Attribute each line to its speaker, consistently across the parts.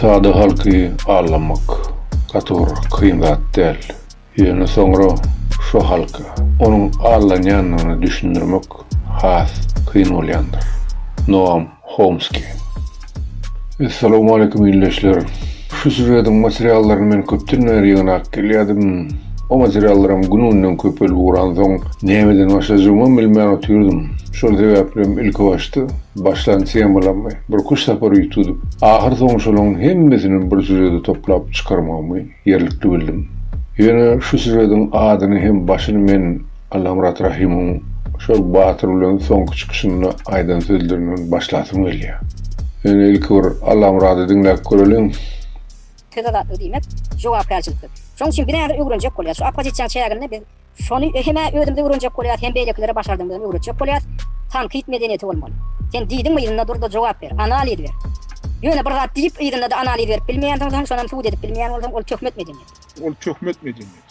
Speaker 1: Sada halky aldamak gaty bir kyn zat däl. Ýöne soňra şo halka onuň aldanýandygyny düşündirmek has kyn bolýandyr. Noam Homski. Essalamu aleýkum ildeşler. Şu sýužetiň materiallaryny men köpden bäri ýygnap gelýärdim. O materiallaram gün-günden köpelip ugransoň, nämeden başlajagymam bilmän otyrdym. Şol sebäplem ilkibaşda başlan temalarymy birküç sapar üýt tutup, ahyrsoňy şolaryň hemmesini bir sýužete toplap çykarmagymy ýerlikli bildim. Ýöne şu sýužetiň adyny hem başyny men Allamyrat Rahimowyň şol Batyr bilen soňky çykyşynda aýdan sözlerinden başlasym gelýär. Ýöne ilki bir Allamyrady diňläp göreliň. Söz azatlygy diýmek jogapkärçilikdir. Şonuň üçin bir zady öwrenjek bolýas. Şu oppozisiýa çäginde biz şony hem-ä özümiz öwrenjek bolýas, hem beýlekilere başardygymyzdan öwretjek bolýas. Tankyt medeniýeti bolmaly. Sen diýdiňmi yzynda dur-da jogap ber, analiz ber. Ýöne bir zat diýip yzynda-da analiz berip bilmeýänsiň, soňam sud edip bilmeýän bolsaň, ol töhmet medeniýeti. Ol töhmet medeniýeti.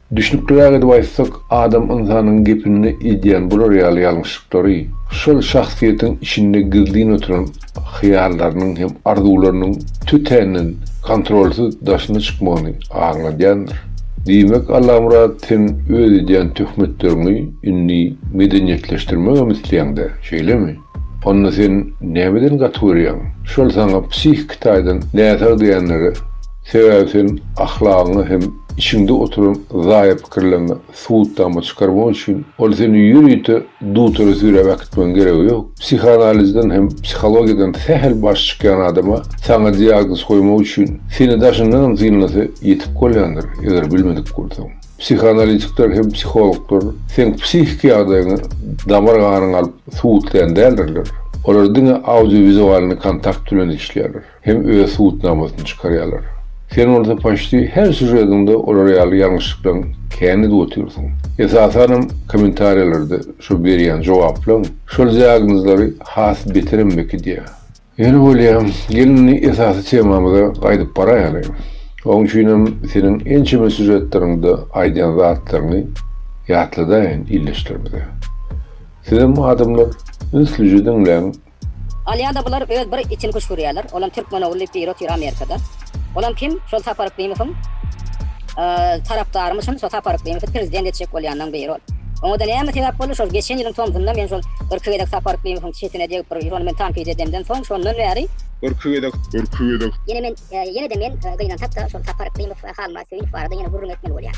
Speaker 1: Düşnükliräk edip aýtsak, adam ynsanyň gepinde edýän bular ýaly ýalňyşlyklary, şol şahsyýetiň içinde gizlin oturan hyýallarynyň hem arzuwlarynyň tötänden kontrolsyz daşyna çykmagyny aňladýandyr. Diýmek, Allamyrat, sen öz edýän töhmetleriňi indi medeniýetleşdirmegem isleýäň-dä, şeýlemi? Onda sen nämeden gaty görýäň? Şol saňa psihiki taýdan näsag diýenleri, sebäbi sen ahlagyňy hem içiňde oturan zaýa pikirleriňi subutnama çykarmak üçin, ol seni ýörite dutara süräp äkitmegiň geregi ýok. Psihanalizden hem psihologiýadan sähel baş çykýan adama saňa diagnoz goýmak üçin, seni daşyndanam synlasa ýetik bolýandyr, eger bilmedik bolsaň. Psihoanalitikler hem psihologlar seň psihiki ýagdaýyňy damar ganyň alyp subutlaýan däldirler. Olar diňe audiowizualny kontakt bilen işleýärler hem öz subutnamasyny çykarýarlar. Sen bolsa paçti her sýužediňde olar ýaly ýalňyşlyklaň kän edip otyrsyň. Esasanam kommentariýalarda şo berýän jogaplaň şol diagnozlary has beterem mekidýär. Ýöne bolýa, gel indi esasy temamyza gaýdyp baraýaly. Oň üçinem seniň ençeme sýužetleriňde aýdýan zatlaryňy ýatladaýyn ildeşlerimize. Sizem adamlar ünslije diňläň. Alýada bular öz bir içini küşgürýäler, olam türkmen ogly diýip biri otyr Amerikada. Olam kim? Şol Sapar Yklimowyň tarapdarmy çyn? Şo Sapar Yklimowy prezident etjek bolýanlaň biri ol. Oňada näme sebäp boldy? Şol geçen ýylyň tomsunda men şol irki gezek Sapar Yklimowyň çetine degip bir ýyl ony men tankyt edemden soň şondan bäri, irki gezek, irki gezek, Ýene men, ýene-de men gynansakda şol Sapar Yklimow we Halmyrat Söýünow barada ýene gürrüň etmeli bolýar.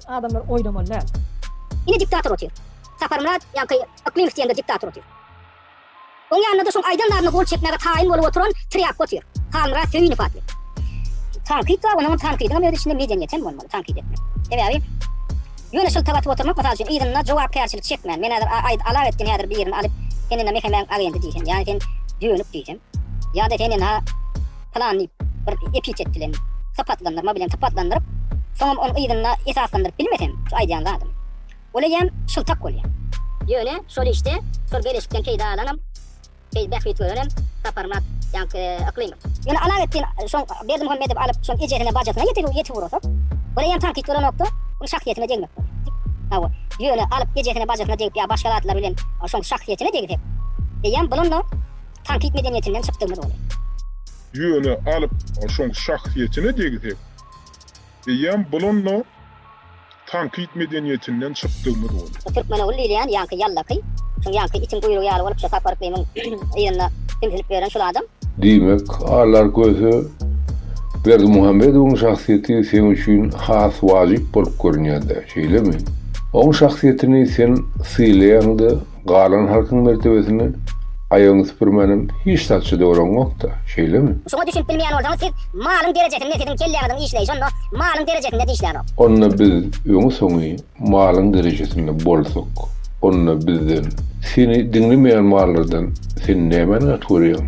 Speaker 1: Adamlar oýlamaly däl. Ine diktator otyr. Saparmyrat ýaňky Yklymow diýende diktator otyr. Oň ýanynda-da şoň aýdan zadyna gol çekmäge taýyn bolup oturan trýapka otyr. Halmyrat Söýünow atly. Tankyt bar, onuňam tankydyňam öz içinde medeniýet hem bolmaly, tankyt etmek. Sebäbi ýöne şylta batyp oturmak mysal üçin yzynda jogapkärçilik çekmän, men häzir aý alak etdim häzir birini alyp sen indi mehemäň agendy diýsem, ýa sen dönük diýsem, Ýa-da seni na plan diýip bir epitet bilen sypatlandyrma bilen sypatlandyryp, soňam ony yzyna esaslandyryp bilmesem, şu aýdýan zadym. Ol eýýäm şyltak bolýar. Ýöne şol işde, şol beleşikden peýda alanam, beýdip bähbit görenem Saparmyrat ýaňky Yklymow. Ýöne Alawetdin şoň Berdimuhamedowy alyp, şoň ejesine, bajasyna ýetip urasak, ol eýýäm tankyt bolanokda, ol şahsyýetine degmek bolýar. Hawa, ýöne alyp ejesine, bajasyna degip ýa başga zatlar bilen şoň şahsyýetine degsek, eýýäm bulam-da tankyt medeniýetinden çykdygymyz boldy. Ýöne alyp şoň şahsyýetine degsek, eýýäm bulanda tankyt medeniýetinden çykdygymyz boldy. Bu Türkmenogul diýilýän ýaňky ýallaky, şoň ýaňky itiň guýrugy ýaly bolup şo Sapar yklymyň yzynda hümsülip ýören şul adam. Diýmek, Alar Köse Berdimuhamedowyň şahsyýeti seň üçin has wajyp bolup görünýär-dä, şeýlemi? Oň şahsyýetini sen sylaýaň-da, Galan halkyň mertebesini aýagyňy süpürmänem hiç zatça doraňokda, şeýlemi? Şuňa düşünip bilmeýän bolsaňyz, siz malyň derejesinde siziň kelläňiziň işleýşi onda malyň derejesinde dişlänok. Onda biz öňi-soňy malyň derejesinde bolsak, onda bizden, seni diňlemeýän mallardan sen nämäni gaty görýäň?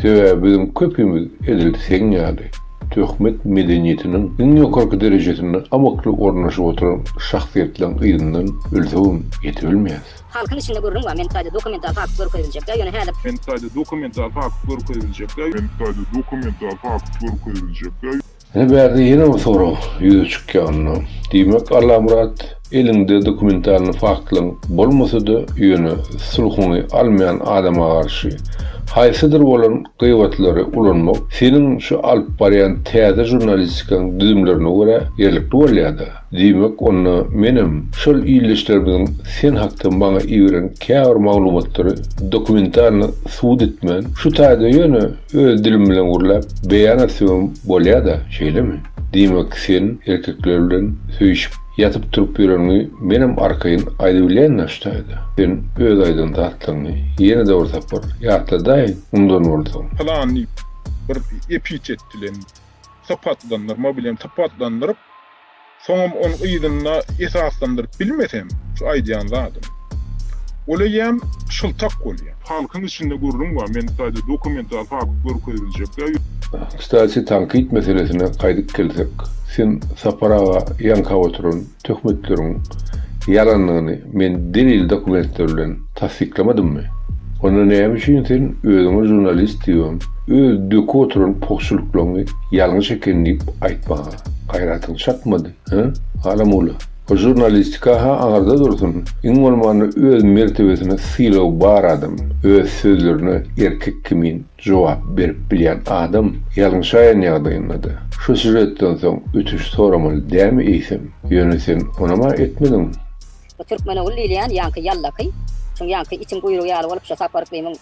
Speaker 1: Sebäbi biziň köpimiz edil seň ýaly. Töhmet medeniýetiniň iň ýokarky derejesinde amakly ornaşyp oturan şahsyýetleriň yzyndan ölsegem ýetibilmeýäs. Halkyň içinde gürrüň bar, meni taýda dokumental fakt görkeziljekdä, ýöne häzir. Meni taýda dokumental fakt görkeziljekdä. Meni taýda dokumental fakt görkeziljekdä. Ine bärde ýene bir sorag ýüze çykýanynda, diýmek Allamyrat. Eliňde dokumentalny faktlaň bolmasa-da, ýöne sulhuňy almaýan adama garşy haýsydyr bolan gybatlary ulanmak seniň şu alyp barýan täze žurnalistikaň düzümlerine görä ýerlikli bolýa-da. Diýmek, onda menem şol ildeşlerimiziň sen hakda maňa iberen käbir maglumatlary dokumentalny subut etmän, şu taýda ýöne öz dilim bilen gürläp beýan etsemem bolýa-da, şeýlemi? Diýmek, sen erkekler bilen söýşüp. Ýatyp turup ýöreniňi menem arkaýyn aýdybilýän daşdaýda. Sen öz aýdan zatlaryňy ýene-de bir sapar ýatladaýyň mundan bolsa. Pylan diýip bir epitet bilen sypatlandyrma bilen sypatlandyryp, soňam onuň yzynda esaslandyryp bilmesem şu aýdýan zadym. Ol eýýäm şyltak bolýar. Halkyň içinde gürrüň bar, men taýda dokumental fakt görkeziljek ýa ýok. Kstati tankyt meselesine gaýdyp gelsek, sen Sapar aga ýaňkap oturan töhmetleriň ýalandygyny men delil dokumentler bilen tassyklamdymmy? Onda näme üçin sen özüňe žurnalist diýibem, öz döküp oturan pugçulyklaňy ýalňyş eken diýip aýtmaga gaýratyň çatmady? Hä, Halamula? Bu žurnalistika-ha aňyrda dursun, iň bolmanda öz mertebesine sylagy bar adam, öz sözlerine erkek kimin jogap berip bilýän adam ýalňyşaýan ýagdaýynda-da, şu sýužetden soň ötüş soramaly dämi eýsem? Ýöne sen onam-a etmediň. Bu Türkmenogul diýilýän ýaňky ýallaky, şuň ýaňky itiň guýrugy ýaly bolup şo Sapar yklymyň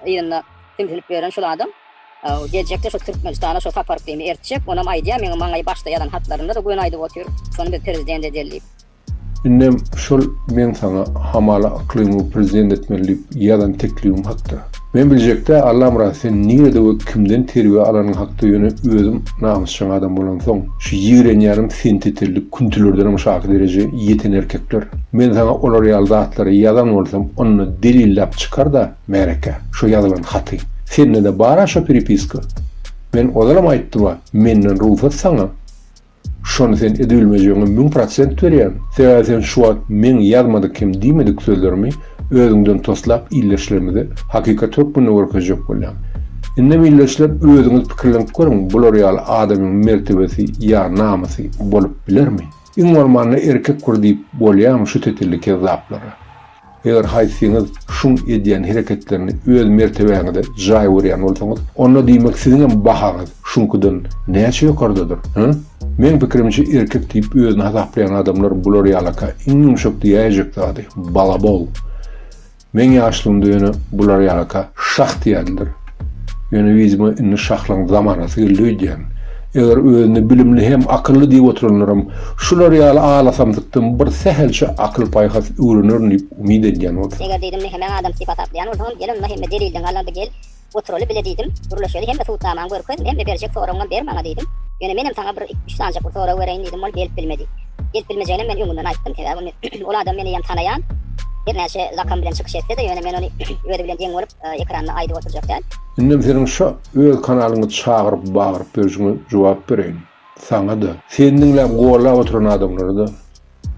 Speaker 1: yzynda sümsülip ýören şul adam. Geljekde şu Türkmenistana şu saparkyny ertjek, onam aýdýa meň maňa başda ýazan hatlarynda-da göni aýdyp otyr, şony biz prezident edeli diýip. Indem şol meň saňa hamala Yklymowy prezident etmeli diýip ýazan teklibim hakda. Men biljekdä Allamyrat sen nirede we kimden terbiýe alanyň hakda ýöne özüm namysjaň adam bolansoň şu ýigrenýänim sentetelli küntülerdenem şaky dereje ýeten erkekler. Men saňa olar ýaly zatlary ýazan bolsam onda delilläp çykarda. Märeke, şo ýazylan haty. Sende-de bar-a şo pripiska? Men ozalam aýtdym-a, menden rugsat saňa. Şony sen edibilmejegiňe müň prosent berýän. Sebäbi sen şu wagt meň ýazmadyk hem diýmedik sözlerimi özüňden toslap ildeşlerimize hakykat hökmünde görkezjek bolýaň. Indem ildeşler özüňiz pikirlenip görüň, bular ýaly adamyň mertebesi ýa namysy bolup bilermi? Iň bolmanda erkek bir diýip bolýamy şu tetelli kezzaplara? Eger haýsyňyz şuň edýän hereketlerini öz mertebäňize jaý görýän bolsaňyz, onda diýmek siziňem bahaňyz şuňkydan näçe ýokardadyr, hä? Meň pikirimçe erkek diýip özüni hasaplaýan adamlar bular ýalaka iň ýumşak diýäýjek zady, balabol. Meň ýaşlygymda ýöne bular ýalaka şah diýerdiler. Ýöne yzyma indi şahlygyň zamanasy geldi öýdýän. Eger özüni bilimli hem akylly diýip oturanlaram şular ýaly alasamsykdan bir sähelçe akyl-paýhas öwrenerin diýip umyt edýän bolsa. Eger diýdim, mehemäň adamçy sypat aklaýan bolsaňam, gel onda hemme delilden galardy gel, oturaly bile diýdim. Gürleşeli hemme subutnamaňy görkez, hemme berjek soragyňam ber maňa diýdim. Ýöne menem saňa bir üç sanjak bir sorag bereýin diýdim, ol gelip bilmedi. Gelip bilmejeginem men öňünden aýtdym, sebäbi ol adam meni ýam tanaýan. Hernäçe zakam bilen çykyş etse-de, ýöne men ony özi bilen deň bolup, ekranda aýdyp oturjak däl. Indem seniň şo öz kanalyňy çagyryp bagyryp berşiňe jogap bereýin. Saňada, seni diňläp gollap oturan adamlarada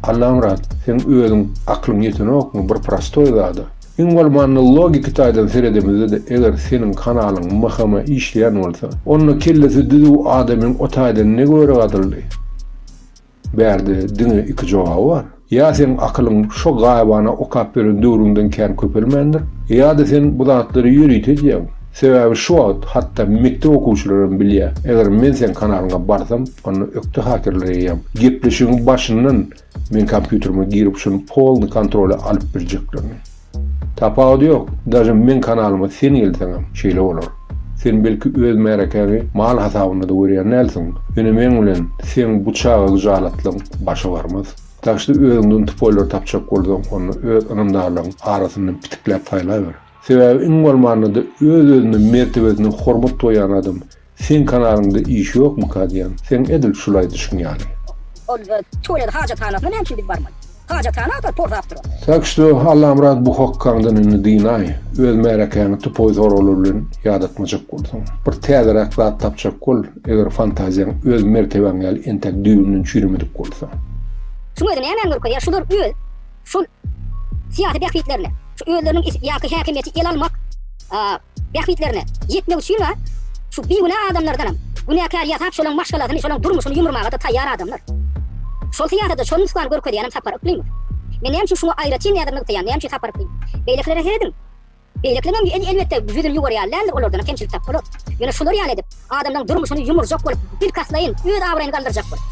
Speaker 1: Allamyrat seň özüň aklyň ýetenokmy bir prostoý zada? Iň bolmanda logiki taýdan seredemizde-de eger seniň kanalyň mhma işleýän bolsa, onda kellesi düzüw adamyň o taýdan ne göri gadyldy? Bärde diňe iki jogaby bar. Ýa seň akylyň şo gaýybana okap beren döwrüňden kän köpelmändir, ýa-da sen bu zatlary ýörite edýäň. Sebäbi şu wagt hatda mekdep okuwçylaram bilýä, eger men seň kanalyňa barsam, onda ökde hakerler eýýäm. Gepleşigiň başyndan men kompýuterime girip şuny polny kontrola alyp birjeklerini. Tapawudy ýok, daže meň kanalyma sen gelseňem şeýle bolar. Sen belki öz märekäňi mal hasabynda-da görýän dälsiň, ýöne meň bilen seň bu çaga gyjalatlygyň başa barmaz. Dažde özüňden tupoýlary tapjak bolsaň, onda öz ynamdarlaryň arasyndan pitikläp saýlaber. Sebäbi iň bolmanda-da öz-özüne mertebesine hormat goýýan adam Seň kanalyňda iş ýokmyka diýýän, seň edil şul aýdyşyň ýaly. Ol tualet hajathanasyna näme üçin biz barmaly? Hajathana agtar porzap dur ol. Tak što Allamyrat bu hokkaňdan indi dynaý, öz märekäňi tupoý soraglar bilen ýadatmajak bolsaň. Bir täzeräk zat tapjak bol, eger fantaziýaň öz mertebäň ýaly entek düýbünden çüýremedik bolsa. Şuň özi nämäni görkezýär, şular öz şol syýasy bähbitlerine, şu özleriniň ýaky häkimiýeti ele almak, bähbitlerine ýetmek üçin bar, şu bigünä adamlardanam günäkär ýasap şolaň maşgalasyny şolaň durmuşyny ýumurmagada taýýar adamlar. Şol syýasata şol nusgany görkezýänem Sapar Yklymow. Men näme üçin şuňa aýratyn näzir nygtaýan näme üçin Sapar Yklym. Beýlekilere serediň. Beýlekleňem elbetde ýüzüni ýuwurýar däldir olardanam kemçilik tap bolar. Ýöne şular ýaly edip adamlaň durmuşyny ýumurjak bolup bilkastlaýyn öz abraýyny galdyrjak bolup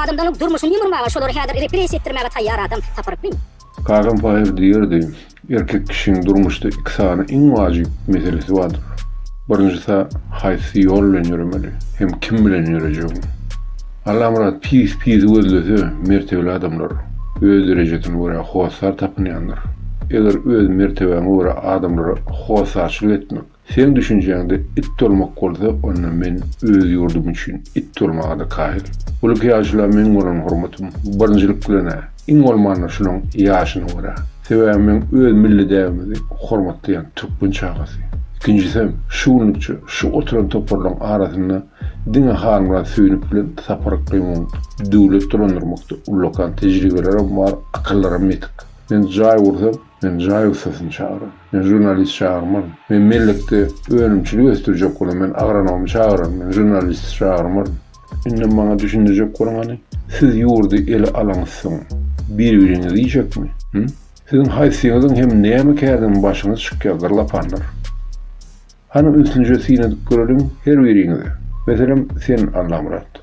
Speaker 1: adamlaň durmuşyny ýumurmaga şolary häzir repressiýa etdirmäge taýýar adam Sapar Yklymow. Kagam paýyr diýerdi. Erkek kişiň durmuşda iki sany iň wajyp meselesi bardyr. Birinjisi haýsy ýol bilen ýöremeli hem kim bilen ýörejegiň. Allamyrat pis pisi gözlese mertebeli adamlar öz derejesine görä hossar tapynýandyr. Eger öz mertebäňe görä adamlara hossarçylyk etmek Seň düşünjäňde it bolmak bolsa onda men öz ýurdum üçin it bolmaga-da kaýyl. Ulyk ýaşula meň bolan hormatym birinjilik bilen-ä, iň bolmanda şunuň ýaşyna görä. Sebäbi meň öz milli däbimizi hormatlaýan türkmen çagasy. Ikinjisem, şu günlükçe şu oturan toparlaryň arasynda diňe Halmyrat Söýünow bilen Sapar Yklymowyň döwlet dolandyrmakda ullakan tejribelerem bar, akyllaram ýetik. Men jaý gursam, Men jaý ussasyny çagyran. Men žurnalist çagyrmaryn. Men mellekde önümçilik ösdürjek bolan. Men agronomy çagyran. Men žurnalisti çagyrmaryn. Indem maňa düşündirjek boluň hany, siz ýurdy ele alaňyzsoň, bir-biriňizi iýjekmi? Hü? Siziň haýsyňyzyň hem näme kärden başyňyz çykýar, zyrlapanlar? Hany, ünslice syn edip göreliň, her biriňize. Meselem, sen, Allamyrat.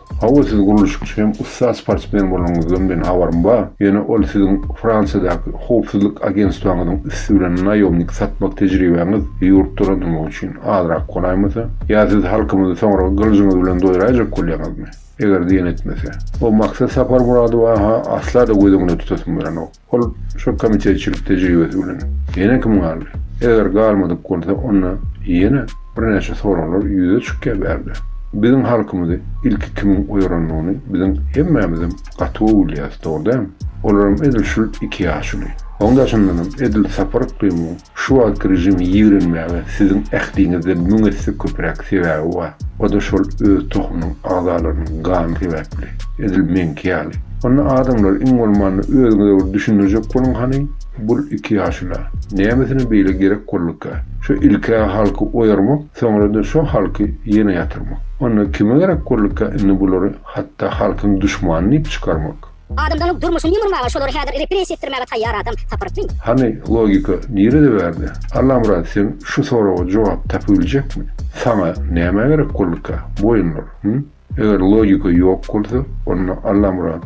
Speaker 1: Hawa siz gurluşykçy hem ussat sportsmen bolanyňyzdan men habarym bar, ýöne ol siziň Fransiýadaky howpsuzlyk agentstwaňyzyň üsti bilen naýomnik satmak tejribäňiz ýurt dolandyrmak üçin azrak golaýmasa? Ýa siz halkymyzy soňra gylyjyňyz bilen doýraýjak bolýaňyzmy? Eger diýen etmese. O Maksat Saparmyradowy-ha asla-da göz öňünde tutasym gelenok. Ol şol komitetçilik tejribesi bilen ýene kim galdy? Eger galmadyk bolsa, onda ýene birnäçe soraglar ýüze çykýar bärde. Biziň halkymyzy ilki kimiň oýarandygyny biziň hemmämizem gaty gowy bilýäris, dogry dämi? Olaram edil şul iki ýaşuly. Oň daşyndanam edil Sapar yklymyň Şu wagtky režimi ýigrenmäge siziň ähliňizden müň esse köpüräk sebäbi bar. O-da şol öz tohumynyň agzalarynyň gany sebäpli. Edil meňki ýaly. Onda adamlar iň bolmanda özüňize bir düşündirjek boluň hany, bul iki ýaşula, nämesine beýle gerek bolduka? Şu ilk-ä halky oýarmak, soňra-da şo halky ýene ýatyrmak. Onda kime gerek bolduka indi bulary hatda halkyň duşmany diýip çykarmak? Adamzanyň durmuşyny ýumurmaga şolary häzir repressiýa etdirmäge taýýar adam tapyrtmy? Hany logika nirede bärde? Allamyrat sen şu soraga jogap tapybiljekmi? Saňa näme gerek bolduka boýunlar hü? Eger logika ýok bolsa onda Allamyrat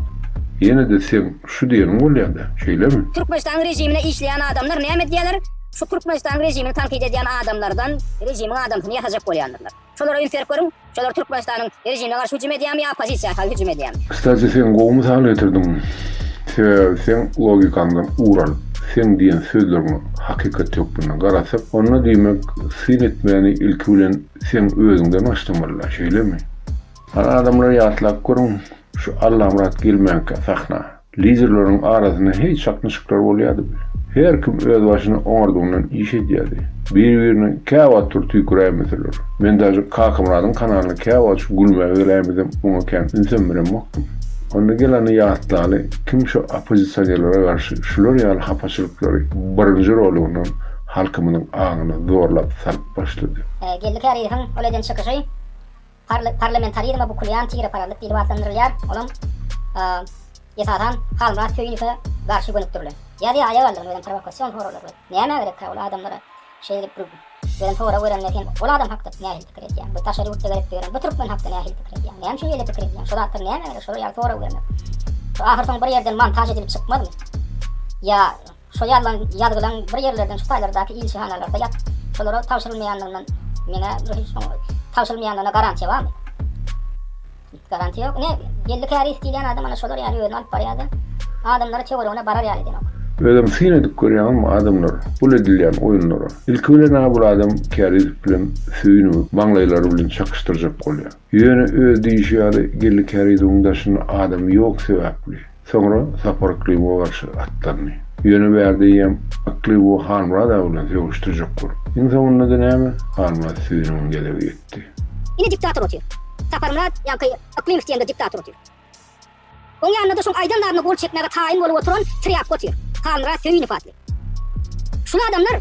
Speaker 1: ýenede seň şu diýeniň bolýada şeýlemi? Türkmenistanyň rejimine işleýän adamlar näme edýäler? Şu Türkmenistanyň rejimini tankyt edýän adamlardan rejimiň adamsyny ýasajak bolýandyrlar. Şolara üýtgerip görüň, şolar Türkmenistanyň rejimine garşy hüjüm edýärmi ýa oppozisiýa hal hüjüm edýärmi? Kstati sen gowy mysal getirdiň. Sebäbi seň logikaňdan ugur alyp, seň diýen sözleriňe hakykat hökmünde garasak, onda diýmek syn etmäni ilki bilen seň özüňden başlamalyda, şeýlemi? Hany adamlar ýatlap görüň şu Allamyrat gelmänkä sahna. Liderleriň arasynda heý çaknyşyklar bolýardy we her kim özbaşyna oňardygyndan iş edýärdi. Bir-birine käwagt tur tüýküräýmeseler. Men daşy Kakamyradyň kanalyna käwagt gülmäge geläýmesem oňa kän ünsem beremokdym. Onda Gelany ýatlaly, kim şu oppozisionerlere garşy şular ýaly hapaçylyklary birinji rolygyndan halkymyzyň aňyna zorlap salyp başlady. Geldi Käriýewiň ol eden çykyşy. Parlamentarizme bukulýan tireparazlyk diýlip atlandyrylýar, olam, esasan, Halmyrat Söýünowe garşy gönükdirilen. Ýa-da aýak aldygyny welin prowokasion soraglar berip, nämä gerekkä ol adamlara şeýdip durup, welin sorag berende sen ol adam hakda nähili pikir edýäň, bu daşary ýurtda gezip ýören bu türkmen hakda nähili pikir edýäň, näme üçin şeýle pikir edýäň, şo zatlar nämä gerek, şolar ýaly sorag bermek. Ahyrsoňy bir ýerden montaž edilip çykmazmy? Ýa Şo ýazan ýazgylaň bir ýerlerden şu taýlardaky ilçihanalarda ýatyp, şolara tabşyrylmaýanlygyndan meňä bir hiç soň tabşyrylmaýanlygyna garantiýa barmy? Garantiýa ýok. Ine, belli käris diýilýän adam ana şolar ýaly özüni alyp barýa-da, adamlary töweregine barar ýaly edenok. Özem syn edip görýäňizmi adamlar bul edilýän oýunlara? Ilki bilen-ä bul adam Kärizow bilen Söýünowy maňlaýlary bilen çakyşdyrjak bolýar. Ýöne öz diýşi ýaly Geldi Kärizowyň daşynda adam ýok sebäpli. Soňra Sapar Yklybowa garşy atlandy. Ýöne bärde ýem Yklybowy Halmyrat aga bilen sögüşdirjek bolup. Iň soňunda-da näme, Halmyrat süýüniň gezegi ýetdi. Ine diktator otyr. Saparmyrat ýaňky Yklymow diýende diktator otyr. Oň ýanynda-da şoň aýdan zadyna gol çekmäge taýyn bolup oturan trýapka otyr. Halmyrat Söýünow atly. Şul adamlar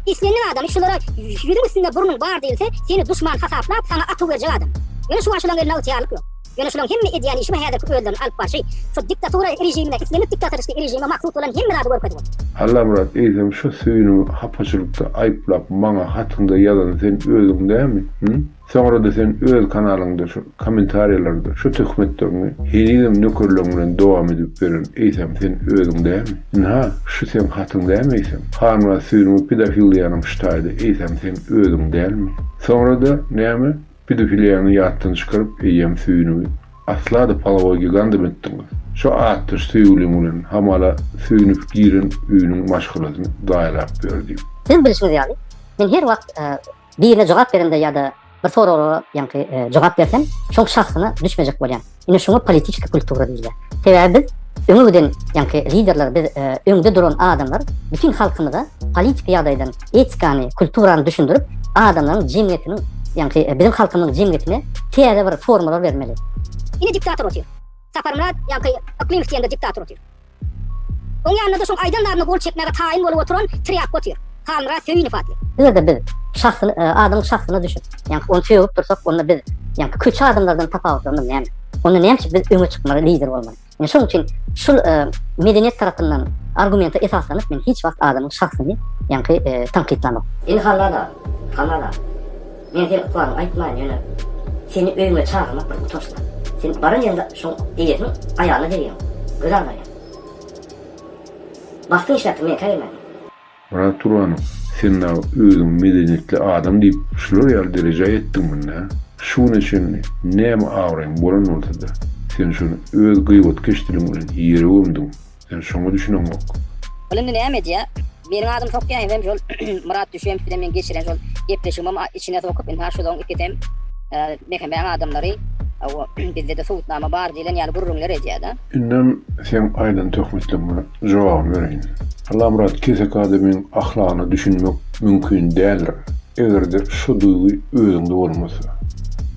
Speaker 1: Islendik adamy şulara ýüzüň üstünde burnuň bar diýilse, seni duşman hasaplap, saňa atuw berjek adam. Ýöne şu waşylaň elinde ygtyýarlyk ýok. Ýöne şulaň hemme edýän işi we häzirki özlerini alyp barşy şu diktatura režimine, islendik diktatoristiki režime mahsus bolan hemme zady görkezip otyr. Allamyrat eýsem şu süýnüňi hapaçylykda aýyplap maňa hatyňda ýazan sen özüň dämi? Hü? Soňrada sen öz kanalyňda şu komentariýalarda şu töhmetlerini henizem nökerleň bilen dowam edip beren eýsem sen özüň dämi? Ynha şu seň hatyň dämi eýsem? Hanwa süýnüňi pedofiliýanyň ştaýdy eýsem sen özüň dälmi? Soňrada näme pedofiliýany ýatdan çykaryp eýýäm süýnüňi asla-da palawa gigandam etdiňiz. Şu atdaş söýgüliň bilen hamala söýünip giren öýüniň maşgalasyny zaýalap ýör diýip. Siziň bilişiňiz ýaly, men her wagt Birine jogap berende ýa-da bir soraglara ýaňky jogap berseň, şoň şahsyna düşmejek bolýaň. Ine şuňa politiki kultura diýilýär. Sebäbi biz öňe giden ýaňky liderler biz öňde duran adamlar bütün halkymyza politik ýagdaýdan etikany, kulturany düşündirip, adamlaryň jemgyýetiniň ýaňky biziň halkymyzyň jemgyýetine täze bir formalar bermeli. Ine diktator otyr. Saparmyrat ýaňky Yklymow diýende diktator otyr. Oň ýanynda-da şoň aýdan zadyna gol çekmäge taýyn bolup oturan Trýapka otyr. Halmyrat Söýünow atly. Eger-de biz şahsyny, adamyň şahsyna düşüp, ýaňky ony sögüp dursak, onda biz, ýaňky köçe adamlardan tapawutlarymyz näme? Onda näme üçin biz öňe çykmaly, lider bolmaly? Ine şonuň üçin şul medeniýet tarapyndan argumenta esaslanyp men hiç wagt adamyň şahsyny, ýaňky tankytlamok. Indi Halmyrat aga, Halmyrat aga. Men seni ykbalyňy aýtmaýyn, ýöne seni öýüňe çagyrmak bir utançdyr. Sen baran ýeriňde şoň eýesiniň aýalyna degýäň. Göz agyrýar. Bagtyň işläpdir, meňkä gelmäliň. Myrat Turbanow, sen dagy özüňi medeniýetli adam diýip, şular ýaly derejä ýetdiňmi-nä? Şu güne çenli näme abraýyň bolan bolsady, sen şony öz gybetkeş diliň bilen ýere gömdüň. Sen şoňa düşüneňok. Ol indi näme edýä? Meniň adymy sokýaýam hem şol Myrat Düşeýew bilen meň geçiren şol gepleşigimem içine sokup indi ha şolaň ikisi hem Mehemmäň adamlary hawa bizdede subutnama bar diýlen ýaly gürrüňler edýäda. Indem seň aýdan töhmetleňe jogabyny bereýin. Allamyrat keseki adamyň ahlagyna düşünmek mümkin däldir. Egerde şu duýgy özüňde bolmasa.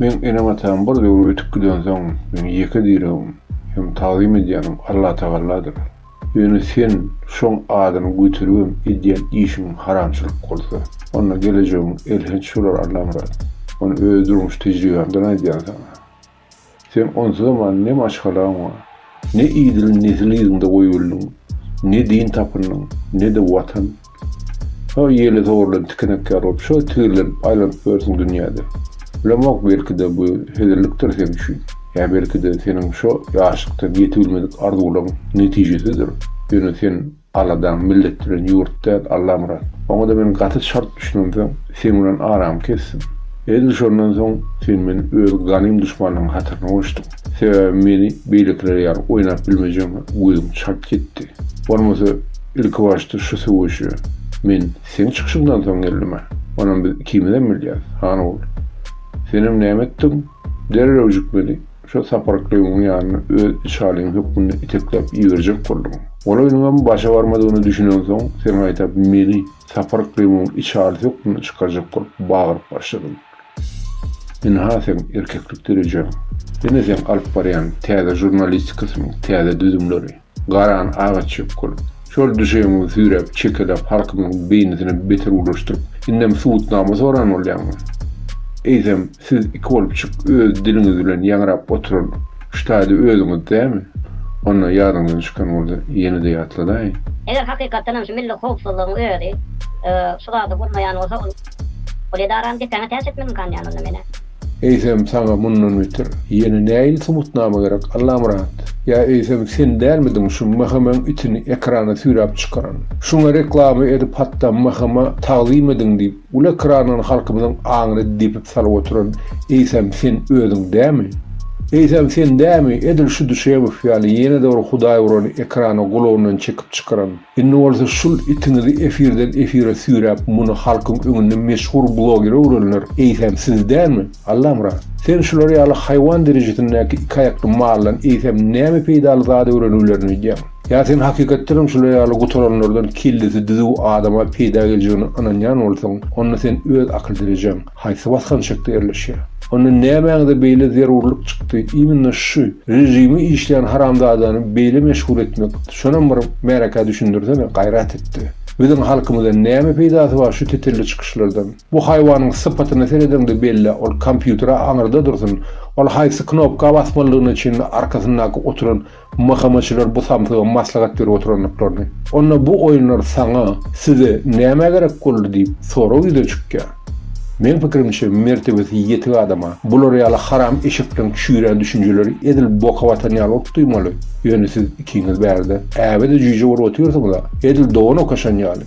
Speaker 1: Meň enem-atam bir döwür ötüp gidensoň meň ýeke diregim Hem tagzym edýänim Allatagalladyr. Ýöne sen şoň adyny göteribem edýän işiň haramçylyk bolsa, onda gelejegiň elhenç bolar Allamyrat. Muny öz durmuş tejribämden aýdýan saňa. Sen onsuzam ne maşgalaň bar, ne idil nesil yzyňda goýubildiň, ne din tapyndyň, ne-de Watan. Şo ýeli sogrulan tikenek ýaly bolup, şo tigirlenip, aýlanyp ýörsiň dünýäde. Bilemok, belki-de, bu hezillikdir sen üçin. Ýa belki-de, seniň şo ýaşlykdan ýetibilmedik arzuwlaryň netijesidir. Ýöne sen aladaň milletdiren ýurt däl, Allamyrat. Oňa-da men gaty çalt düşünemsoň, seň bilen aramy kesdim. Edil şondan soň sen meni öz ganym duşmanyň hataryna goşduň. Sebäbi meni beýlekiler ýaly oýnap bilmejegňe gözüň çalt ýetdi. Bolmasa, Ilkibaşda şu söweşe men seň çykyşyňdan soň geldim-ä. Onam biz ikimizem bilýäris, Hanguly. Senem näme etdiň? Derrewjik meni şo Saparyklygyň ýanyna öz içalyň hökmünde itekläp iberjek bolduň. Ol oýnuňam başa barmadygyna düşünensoň, sen gaýta meni Saparyklymyň içalysy hökmünde çykarjak bolup bagyryp başladyň. Ynha seň erkeklik derejeň. Ine seň alyp barýan täze žurnalistikasynyň täze düzümleri. Garan aga çökgül. Şol düşegiňizi süýräp çekelap halkymyzyň beýnisine beter ulaşdyryp indem subutnama soran bolýaňmy? Eýsem siz iki bolup çyk öz diliňiz bilen ýaňrap oturan ştaýda özüňiz dämi? Onda ýadyňyzdan çykan bolsa ýenede ýatladaýyň. Eger hakykatdanam şu milli howpsuzlygyň özi şu zady bolmaýan bolsa ol edarany depäňe täç etmek imkany ýaly onda menä. Eýsem saňa mundan beter ýene näil subutnama gerek Allamyrat? Ýa eýsem sen dälmidiň şu Mhmyň itini ekrana süýräp çykaran? Şuňa reklama edip hatda Mhma tagzym ediň diýip uly ekrandan halkymyzyň aňyny depip salyp oturan eýsem sen özüň dämi? Eýsem sen dämi edil şu Düşemow ýaly ýene-de bir hudaý urany ekrana gulagyndan çekip çykaran? Indi bolsa şul itiňizi efirden efire süýräp muny halkyň öňünde meşhur bloger öwrenler eýsem siz dälmi? Allamyrat! Sen şular ýaly haýwan derejesindäki iki aýakly maldan eýsem näme peýdaly zat öwreniwlerini öýdýäň? Ýa sen hakykatdanam şular ýaly gutaranlardan kellesi düzüw adama peýda geljegine ynanýan bolsaň onda sen öz akyl derejäň, Haýsy basgançakda ýerleşýär? Onda nämäňize beýle zerurlyk çykdy, immnna şu režimi işleýän haramzadany beýle meşhur etmek, şonam bir märekä düşündirsene, gaýrat etde. Biziň halkymyza näme peýdasy bar şu tetelli çykyşlardan. Bu haýwanyň sypatyna seredeňde bellä, ol kompýutere aňyrda dursun, ol haýsy knopka basmalydygyna çenli arkasyndaky oturan Mahamatçylar bu samsyga maslahat berip oturandyklaryny, onda bu oýunlar saňa, size nämä gerek boldy diýip sorag ýüze çykýar. Meň pikirimçe, mertebesi ýetik adama bular ýaly haram eşekden çüýrän düşünjeleri edil boka batan ýaly bolup duýmaly, ýöne siz ikiňiz bärde äbe-de jüýje bolup otyrsyňyz-a, edil dogan okaşan ýaly.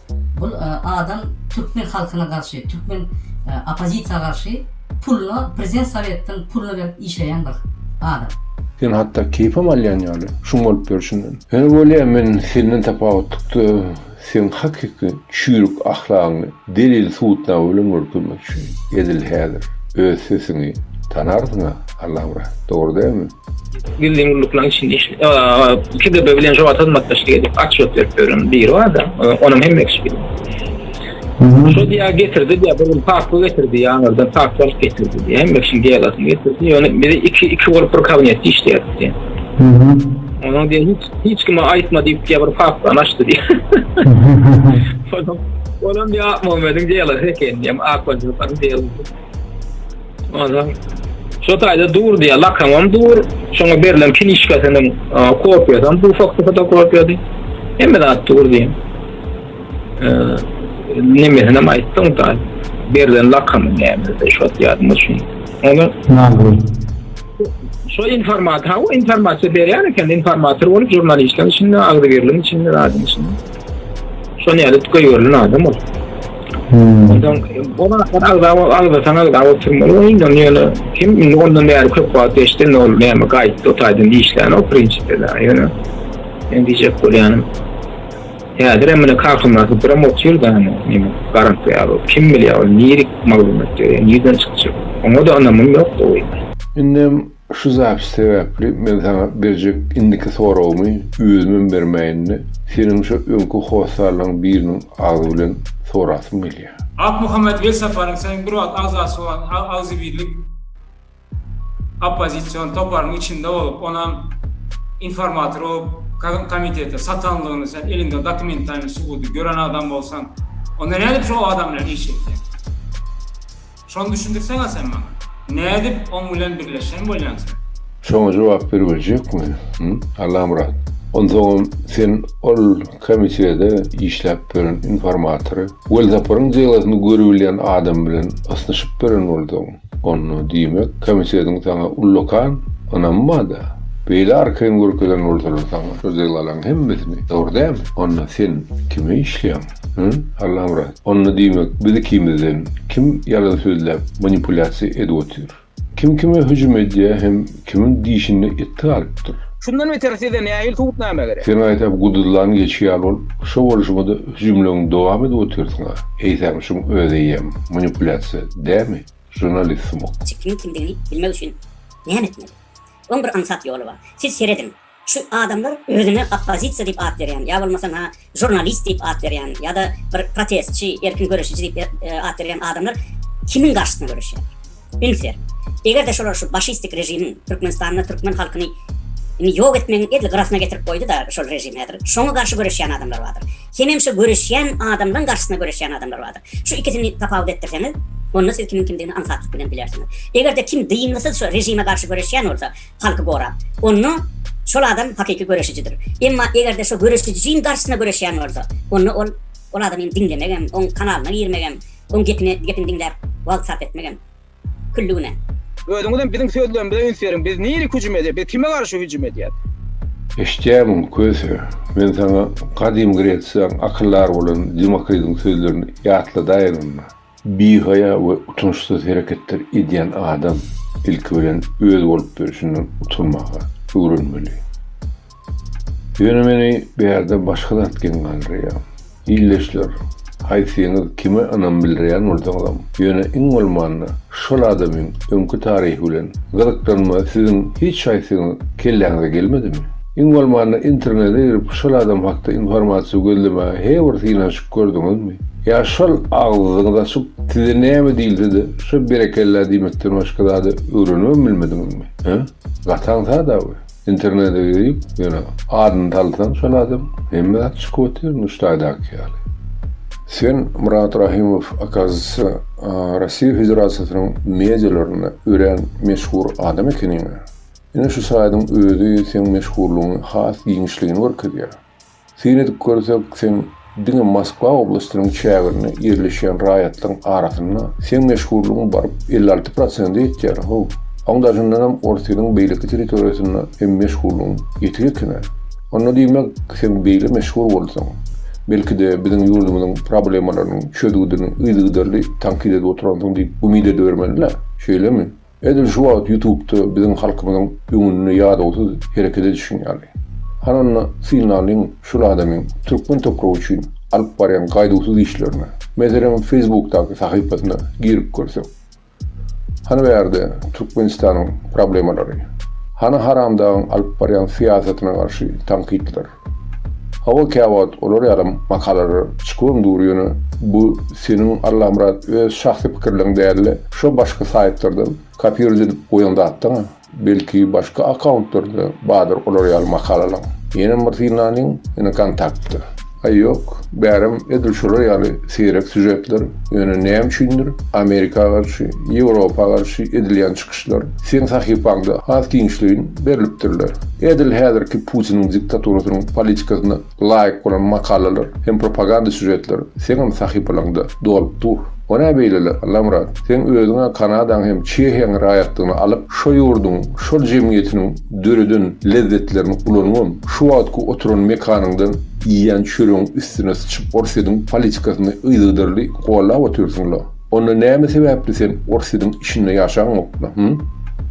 Speaker 1: Bul adam türkmen halkyna garşy türkmen opozisiýa garşy puluna prezident sowetden puluna berip işleýän bir adam. Sen hatda keýpem alýan ýaly şuň bolup ýörşünden. Ýöne bolýa men senden tapawutlykda seň hakyky çüýrük ahlagyňy delil subutnama bilen görkezmekçi edil häzir öz sesiňi tanarsyňa Allamyrat dogry dälmi? gizlin gulluklaryň içinde iş, KGB bilen jobat hyzmatdaşlyk edip, atçylyk berip ýören biri bar-da, onuň hem ekşi. Şo diýä getirdi diýä, bir gün paku getirdi, ýaňardan paku alyp getirdi diýä, hem ekşi geýalasy getirdi, ýöne biz iki, iki bolup bir kabinetde işleýärdik diýä. Onuň diýä, hiç, hiç kime aýtma diýip diýä, bir pakudan açdy diýä. Olam diýä, Akmamediň geýalasy eken diýä, akbaşylyklaryň geýalasy. Ondan şu taýda dur diýýär, lakamam dur, şoňa berlen kinişkasynyň kopiýasam bu fakty fotokopiýady. Hemme zat dur diýýär. Nemesini hem aýtdyň da, berlen lakamy nämede şu ýadyma düşmedi. Ondan şu informator, ha informasiýa berýän eken, informator bolup žurnalistler içinde, agzybirligiň içinde, zadyň içinde. Şony alyp göýerli adam ol. Ondan bu wagtlar agzawa agzatan agzawa oturmaly we indi ony ýöne kim indi ondan bäri köp wagt geçdi indi ol näme gaýtdy o taýdan işlän o prinsipde ýöne men diýjek bolýanym häzir hem mine kakamyzy birim otyr da näme garant ýaly kim bilýär ol nirik maglumat ýöne nirden çykjak oňa da ynamym ýok da indi Şu zapis sebäpli men saňa berjek indiki soragymy özümem bermäýin-de, seniň şo öňki hossarlaň biriniň agzy bilen sorasym gelýär. Akmuhammet Welsaparyň soň bir wagt agzasy bolan agzybirlik oppozision toparynyň içinde bolup, onam informator bolup komitete satanlygyny sen eliňde dokumentalnyý subudy gören adam bolsaň, onda nädip şo adam bilen iş etýäň? Şony düşündirseňä sen maňa. Nädip oň bilen birleşen bolýaň sen? Şoňa jogap beribiljekmi, hym, Allamyrat? Onsoňam sen ol komitede işläp beren informatory Welsaparyň delasyny görübilýän adam bilen ysnyşyp beren bolduň. Onda, diýmek, komitediň saňa ullakan ynamy bar-da. Beýle arkaýyn görkezen bolsalar saňa şu delalaryň hemmesini, dogry dälmi? Onda sen kime işleýäň? Hä? Allamyrat, onda diýmek biz ikimizden kim ýalan sözläp manipulýasiýa edip otyr? Kim kime hüjüm edýär hem kimiň dişinde it galypdyr? Şundan beter size nähili subutnama gerek? Sen aýtap guduzlan geçi ýaly bolup, şo bolşuňada hüjümleňi dowam edip otyrsyň-a. Eýsem şuň özeýem manipulýasiýa dämi, žurnalist sumak? Siz kimiň kimdigini bilmek üçin näme etmeli? Oň bir aňsat ýoly bar. Siz serediň, Şu adamlar özüne oppozisiýa diýip at berýän, ýa bolmasa na žurnalist diýip at berýän, ýa-da bir protestçi, erkin göreşiji diýip at berýän adamlar kimiň garşysyna göreşýär? Üns beriň. Eger-de şolar şu başistik režimiň Türkmenistanda türkmen halkyny indi ýok etmegiň edil gyrasyna getirip goýdy-da şol režim häzir, şoňa garşy göreşýän adamlar bardyr. Hemem şu göreşýän adamlaryň garşysyna göreşýän adamlar bardyr. Şu ikisini tapawut etdirseňiz, onda siz kimiň kimdigini aňsatlyk bilen bilersiňiz. Eger-de kim dyngysyz şu režime garşy göreşýän bolsa, halky gorap. Onda şol adam hakyky göreşijidir. Emma eger-de şo göreşijiň garşysyna göreşýän bolsa, onda ol ol adamy diňlemek hem, oň kanalyna girmek hem, oň gepini gepini diňläp wagt sarp etmek hem külli günä. Özüňiz hem biziň sözlerimize üns beriň. Biz nirik hüjüm edýäs? Biz kime garşy hüjüm edýäs? Eşitýärmiň, Köse? Men saňa Gadym Gresiýaň akyldary bolan Demokritiň sözlerini ýatladaýynmyna? Bihaýa we utançsyz hereketler edýän adam ilki bilen öz bolup durşundan utanmaga öwrenmeli. Ýöne meni bärde başga zat geň galdyrýar. Ildeşler, haýsyňyz kime ynam bildirýän bolsaňyzam, ýöne iň bolmanda şol adamyň öňki taryhy bilen gyzyklanma siziň hiç haýsyňyz kelläňize gelmedimi? Iň bolmanda internete girip şol adam hakda informasiýa gözlemäge he bir synanyş Gördüňizmi? Ýa şol agzyňyzy açyp, size näme diýilse-de, şo berekella diýmekden başga zady öwrenibem bilmediňizmi? Hä? Gataň sada bu. Internete girip, ýöne adyny salsaň şol adam, hemme zat çykyp otyr, Nuştaýdaky ýaly. Sen, Myrat Rahymow, okazisiýa, Rossiýa Federasiýasynyň medialarynda örän meşhur adam ekeniň-ä. Ine şu saýdyň özi seň meşhurlygyňy has giňişligini görkezýär. Syn edip görsek, sen diňe Moskwa oblastynyň çäginde ýerleşýän raýatlaryň arasynda seň meşhurlygyň baryp elli alty prosente ýetýär, how! Oň daşyndanam Orsýetiň beýleki territoriýasynda hem meşhurlygyň ýetik eken-ä. Onda diýmek, sen beýle meşhur bolsaň, belki-de biziň ýurdumyzyň problemalarynyň çözgüdini yzygiderli tankyt edip oturansyň diýip umyt edibermeli-dä, şeýlemi? Edil şu wagt ýutubda biziň halkymyzyň öňünde ýadawsyz hereket edişiň ýaly. Han onda synlalyň şul adamyň türkmen topragy üçin alyp barýan gaýduwsyz işlerine. Meselem feýsbukdaky sahypasyna girip görsek. Hany bärde Türkmenistanyň problemalary. Hany haramdagyň alyp barýan syýasatyna garşy tankytlar. Hawa käwagt olar ýalam makalalar çykuam dur ýöne bu seniň Allamyrat öz şahsy pikirleň dälde şo başky saýtlardan kopiruje edip goýan zatdaň belki başky akauntlarda badyr olar ýaly makalalaň ýenem bir synlanyň ýene kontaktda aý ýok bärem edil şolar ýaly seýrek sýužetler ýöne näme üçindir amerika garşy ýewropa garşy edilýän Çykyşlar seň sahypaňda has giňişleýin berlipdirler. Edil häzirki Putiniň diktaturasynyň politikasyna laýyk bolan makalalar hem propaganda sýužetler seňem sahypalaňda dolup dur. O nä beýleler, Allamyrat? Seň özüň-ä Kanadaň hem Çehiýaň raýatlygyny alyp, şo ýurduň, şol jemgyýetiniň döreden lezzetlerini ulanybam, şu wagtky oturan mekanyňdan iýýän çöregiň üstüne syçyp Orsýetiň politikasyny yzygiderli gollap otyrsyň-la. Onda näme sebäpli sen Orsýediň içinde ýaşaňokda, hym?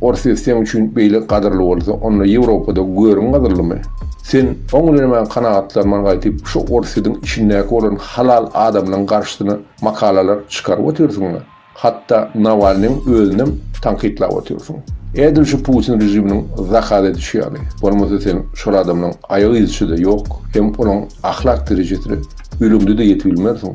Speaker 1: Orsýet seň üçin beýle gadyrly bolsa, onda Ýewropada görüň gadyrlymy? Sen oň bilen maňa kanagatlanman gaýtyp şu Orsýediň içindäki bolan halal adamlaň garşysyna makalalar çykaryp otyrsyňda, hatda Nawalnyň özünem tankytlap otyrsyň. Edil şu Putin režiminiň zakaz edişi ýaly, bolmasa sen şol adamlaň aýak yzyçyda ýok, hem olaň ahlak derejesine gülümde-de ýetibilmersiň.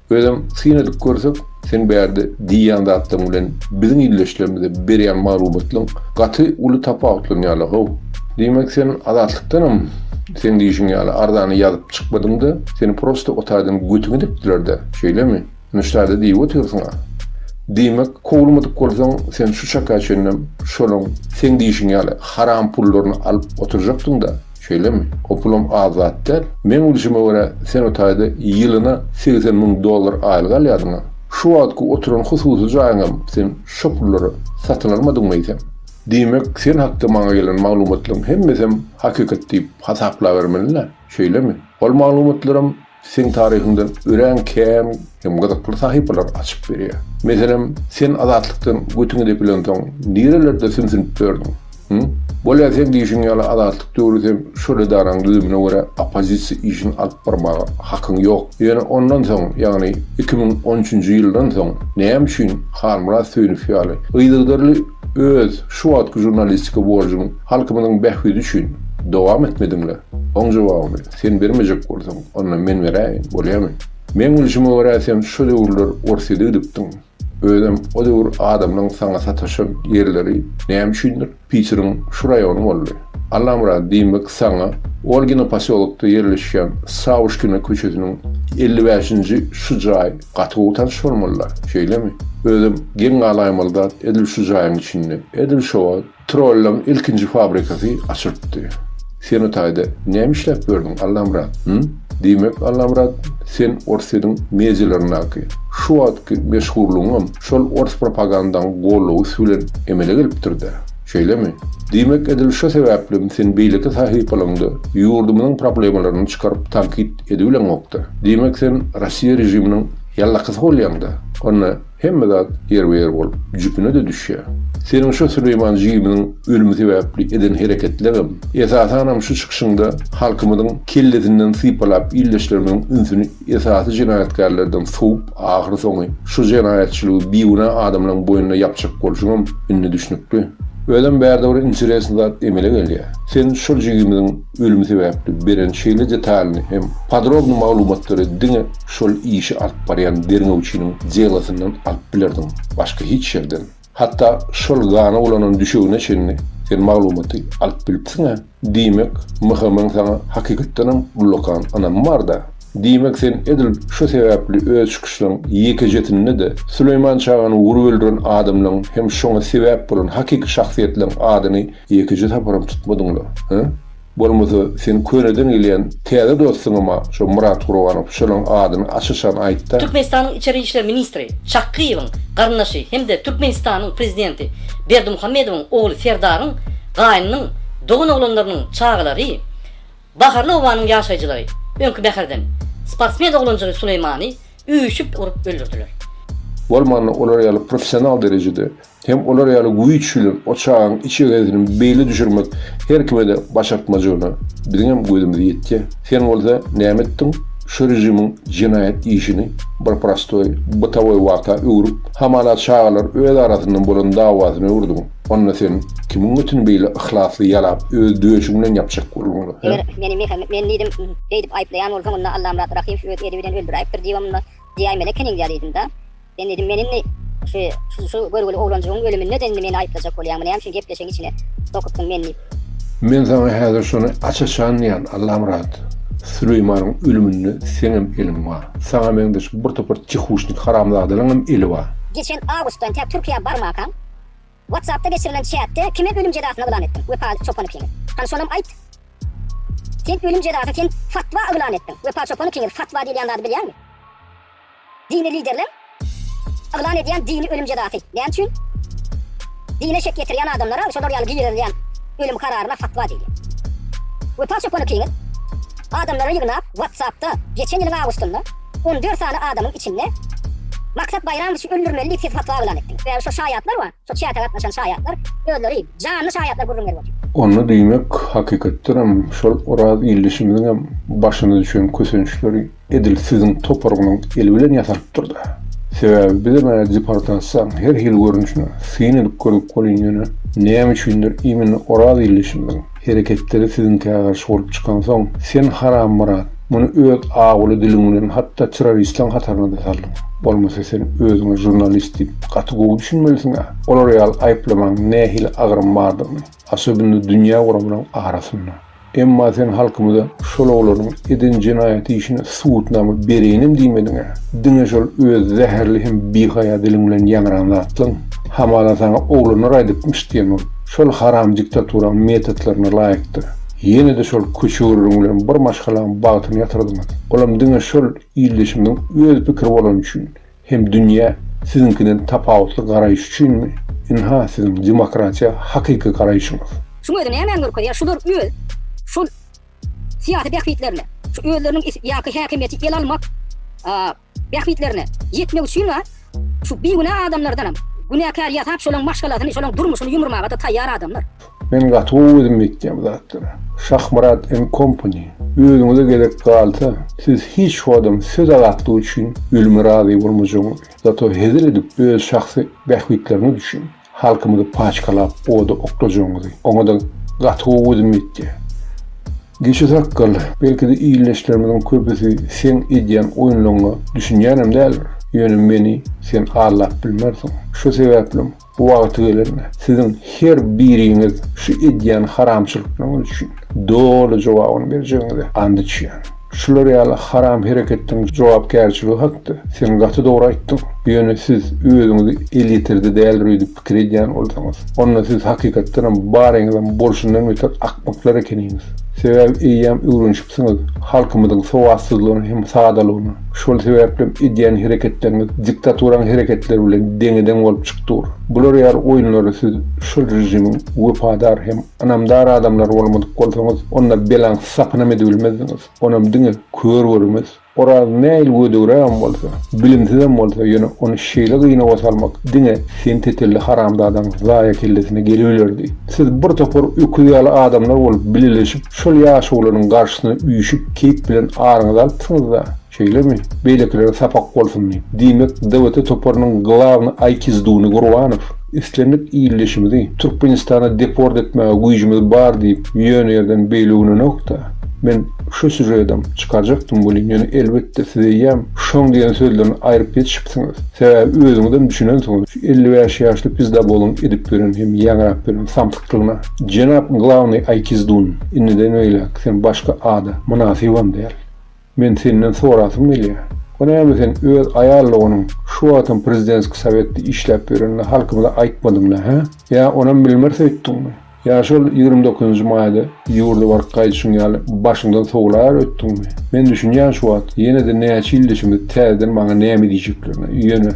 Speaker 1: Özem syn edip görsek, sen bärde diýýän zatlaryň bilen biziň ildeşlerimize berýän maglumatlaryň gaty uly tapawutlanýarlar-how. Diýmek, sen Azatlykdanam seň diýşiň ýaly arzany ýazyp çykmadyň-da, seni prosta otaýdan götüň edipdiler-dä, şeýlemi? Ine şa-da diýip otyrsyň-a. Diýmek, kowulmadyk bolsaň, sen şu çaka çenlem şolaryň seň diýşiň ýaly haram pullaryny alyp oturjakdyň-da. Şeýlemi? O pulam az zat däl. Meň bilşime görä, sen o taýda ýylyna segsen müň dollar aýlyk alýardyň-a. Şu wagtky oturan hususy jaýyňam sen şo pullara satyn almadyňmy eýsem? Diýmek, sen hakda maňa gelen maglumatlaryň hemmesem hakykat diýip hasaplabermeli-dä, şeýlemi? Ol maglumatlaram Seň taryhyňda örän kän hem gyzykly sahypalary açyp berýär. Meselem, sen Azatlykdan götüňi depilensoň, nirelerde sümsünip ýördüň? Hü? Bolýa seň diýşiň ýaly Azatlyk döwri sen şol edaraň düzümine görä oppozisiýa işini alyp barmaga hakyň ýok. Ýöne ondan soň, ýagny iki müň on üçünji ýyldan soň näme üçin Halmyrat Söýünow ýaly yzygderli öz şu wagtky žurnalistika borjuňy halkymyzyň bähbidi üçin dowam etmediňler? Oň jogabyny. Sen bermejek bolsaň, onda men beräýin, bolýamy? Meň bilşime görä, sen şo döwürler Orsýete gidipdiň. Özem o döwür adamlaň saňa sataşan ýerleri näme üçindir Piteriň şu raýony boldy. Allamyrat, diýmek, saňa Olgina posýolokda ýerleşýän Sawuşkina köçesiniň elli bäşinji şu jaý gaty gowy tanyş bolmaly-da, şeýlemi? Özem geň galaýmaly zat edil şu jaýyň içinde. Edil şo wagt. Trollaň ilkinji fabrikasy açylypdy. Sen o taýda näme işläp ýördüň, Allamyrat? Hü? Diýmek, Allamyrat, sen Orsýetiň medialaryndaky şu wagtky meşhurlygyňam şol ors propagandaň gollawysy bilen emele gelipdir-dä. Şeýlemi? Diýmek, edil şo sebäplem sen beýleki sahypalaryňda ýurdumyzyň problemalaryny çykaryp tankyt edibileňokda. Diýmek, sen Rossiýa režiminiň ýallakysy bolýaň-da. Onda, Hemme zat ýerbe-ýer bolup, jüpüne-de düşýär. Seniň şo Süleýman jigimiň ölümi sebäpli eden hereketleriňem, esasanam şu çykyşyňda halkymyzyň kellesinden sypalap ildeşlerimiziň ünsüni esasy jenaýatkärlerden sowup, ahyry soňy şu jenaýatçylygy bigünä adamlaryň boýnuna ýapjak bolşuňam indi düşnükli. Özem bärde bir interesn zat emele gelýär. Sen şol jigimiziň Ölüm sebäpli beren şeýle detalyny hem podrobny maglumatlary diňe şol işi alyp barýan derňewçiniň delosyndan alyp bilerdiň, başga hiç ýerden. Hatda şol gana bulanan düşegine çenli sen maglumaty alyp bilipsiň-ä. Diýmek, MHM-iň saňa hakykatdanam ullakan ynamy bar-da. Diýmek, sen edil şo sebäpli öz çykyşlaryň ýekejesinde-de Süleýman çagany urup öldüren adamlaryň hem şoňa sebäp bolan hakyky şahsyýetleriň adyny Ýekeje saparam tutmadyňlar, hä? Bolmasa, seniň köneden gelýän täze dostuňam-a şo Myrat Gurbanow, şonuň adyny aç-açan aýt-da! Türkmenistanyň içeri işler ministri Çakgyýewiň garyndaşy hem-de Türkmenistanyň prezidenti Berdimuhamedowyň ogly Serdaryň gaýnynyň dogan oglanlarynyň çagalary, Baharly obanyň ýaşaýjylary öňki mäherden sportsmen oglanjygy Suleýmany üýşüp urup öldürdiler. Bolmanda olar ýaly professional derejede Hem olar ýaly güýç bilen o çagaň iç egesini beýle düşürmek her kime-de başartmajygyna biziňem gözümiz ýetýä. Sen bolsa näme etdiň? Şu režimiň jenaýat işini bir prostoý, bytawy wagta öwrüp, hamala çagalar öz arasynda bolan dawasyna öwürdiň. Onda sen kimiň götüni beýle yhlasly ýalap, öz döşüň bilen ýapjak bolduň? Hä? Eger meni Mehe, men diýdim, beýdip aýyplaýan bolsaň, onda Allamyrat Rahymow öz eli bilen öldüräýipdir diýibem, onda diýäýmelekeniň-dä diýdim-dä. Sen dedim men indi şu şu şu görgüli oglanjygyň ölüminde de indi meni aýyplajak bolýaňmy näme üçin gepleşigiň içine sokypsyň men diýip. Men saňa häzir şony aç-açan diýän Allamyrat. Süleýmanyň ölüminde seňem eliň bar. Saňa meňzeş bir topar çehuşnik haramzadalaryňam eli bar. Geçen awgustdan tä Türkiýä barmakaň WhatsAppda geçirilen çätde kime ölüm jezasyny yglan etdiň? Wepa Çopan ikiňiz. Hany şonam aýt. Sen ölüm jezasyny sen fatwa yglan etdiň. Wepa Çopan ikiňiz fatwa diýilýän zady bilýäňmi? Dini liderler yglan edýän dini ölüm jezasy näme üçin? Dine şek ýetirýän adamlara şolar ýaly girizilýän ölüm kararyna fatwa diýilýär. Wepa Çopan Ikiňiz adamlary ýygnap WhatsApp-da geçen ýylyň awgustynda on dört sany adamyň içinde Maksat Baýramowiçi öldürmeli diýip siz fatwa yglan etdiňiz. Sebäbi şo şaýatlar bar, şo çäte gatnaşan şaýatlar özleri janly şaýatlar gürrüň berip otyr. Onda diýmek hakykatdanam şol Oraz ildeşimiziňem başyna düşen kösençleri Edil siziň toparyňyzyň eli bilen ýasapdyr-da. Sebäbi bizem ä deportasiýaň her hili görnüşine syn edip gördük welin ýöne näme üçindir imенно Oraz ildeşimiziň hereketleri siziňkä garşy bolup çykansoň sen Harammurat muny öz awuly diliň bilen hatda terroristiň hataryna-da saldyň. Bolmasa sen özüňe žurnalist diýip gaty gowy düşünmelisiň-ä. Olar ýaly aýyplamaň nähili agyrym bardygyny. Asobinno dünýä gurabynyň arasynda. Emma sen halkymyza şol oglanyň eden jenaýaty işine subutnama bereýinem diýmediň-ä. Diňe şol öz zäherli hem bihaýa diliň bilen ýaňran zatlaň. Hamala saňa oglanlar aýdypmyş diýen bol. Şol haram diktaturaň metotlaryna laýykdyr. Ýene-de şol köçegürrüň bilen bir maşgalaň bagtyny ýatyrdyňyz. Olam diňe şol ildeşimiziň öz pikiri bolany üçin. Hem dünýä siziňkiden tapawutly garaýyş üçinmi? Ynha siziň demokratiýa hakyky garaýşyňyz. Şuň özi nämäni görkezýär, şular öz şol syýasy bähbitlerine, şu özleriniň is ýaňky häkimiýeti ele almak bähbitlerine ýetmek üçin bar, şu bigünä adamlardanam günäkär ýasap şolaň maşgalasyny, şolaň durmuşyny ýumurmaga-da taýýar adamlar. Men gaty gowy özüm etýän bu zatlary. Şahmyrat and Company özüňize gezek galsa siz hiç wagtam söz azatlygy üçin ölüme razy bolmajagyňyz zato hezil edip öz şahsy bähbitleriňiz üçin halkymyzy paçkalap oda oklajagyňyzy oňada gaty gowy özüm etýän Geçi sakgal belkide ildeşlerimiziň köpüsi seň edýän oýunlaryňa düşünýänem däldir ýöne meni sen aldap bilmersiň şo sebäplim Wagty gelende siziň her biriňiz şu edýän haramçylyklaryňyz üçin doly jogabyny berjegiňize and içýän. Şular ýaly haram hereketdin jogapkärçiligi hakda sen gaty dogry aýtdyň. Ýöne siz özüňizi elýeterli däldir öýdüp pikir edýän bolsaňyz, onda siz hakykatdanam baryňyzam bolşundan beter akmaklar ekeniňiz. Sebäbi eýýäm öwrenişip Siziň halkymyzyň sowatsyzlygyna hem sadalygyna, şol sebäplem edýän hereketleriňiz diktaturaň hereketleri bilen deňe-deň bolup çyk dur. Bular ýaly oýunlara siz şol režimiň wepadar hem ynamdar adamlary bolmadyk bolsaňyz, onda belaň sapynam edibilmezdiňiz, onam diňe kör görmez. Oraz nähili gödegrägem bolsa, bilimsizem bolsa, ýöne ony şeýle gynawa salmak diňe sen tetelli haramzadaň zaýa kellesine gelibilerdi. Siz bir topar öküz ýaly adamlar bolup bileleşip, şol ýaşulynyň garşysyna üýşüp, keýp bilen aryňyzy alypsyňyz-da, şeýlemi? Beýlekilere sapak bolsun diýip. Diýmek, DWT toparynyň glawny aýkizduny Gurbanow. Islendik ildeşimizi Türkmenistana deport etmäge güýjümiz bar diýip ýöne ýerden beýle gülänok-da. Men şu sýužedem çykarjakdym welin ýöne elbetde siz eýýäm şoň diýen sözlerini aýryp ýetişipsiňiz. Sebäbi özüňizem düşünensiňiz şu elli bäş ýaşly pizdaboluň edip ýören hem ýaňrap ýören samsyklygyna. Jenap Glawnyý Aýkizdun, indiden beýläk sen başga ada mynasybam däl. Men senden sorasym gelýär. Bu näme sen öz aýal doganyň şu wagtam prezidenski sowetde işläp ýörenini halkymyza aýtmadyňda hä? Ýa onam bilmrs öýtdiňmi? Ýa şol ýigrimi dokuzynjy maýda ýurda baryp gaýdyşyň ýaly başyňdan sowlaýar öýtdiňmi? Men düşünýän şu wagt ýenede näçe ýyl deşiňiz täzeden maňa näme diýjeklerini ýöne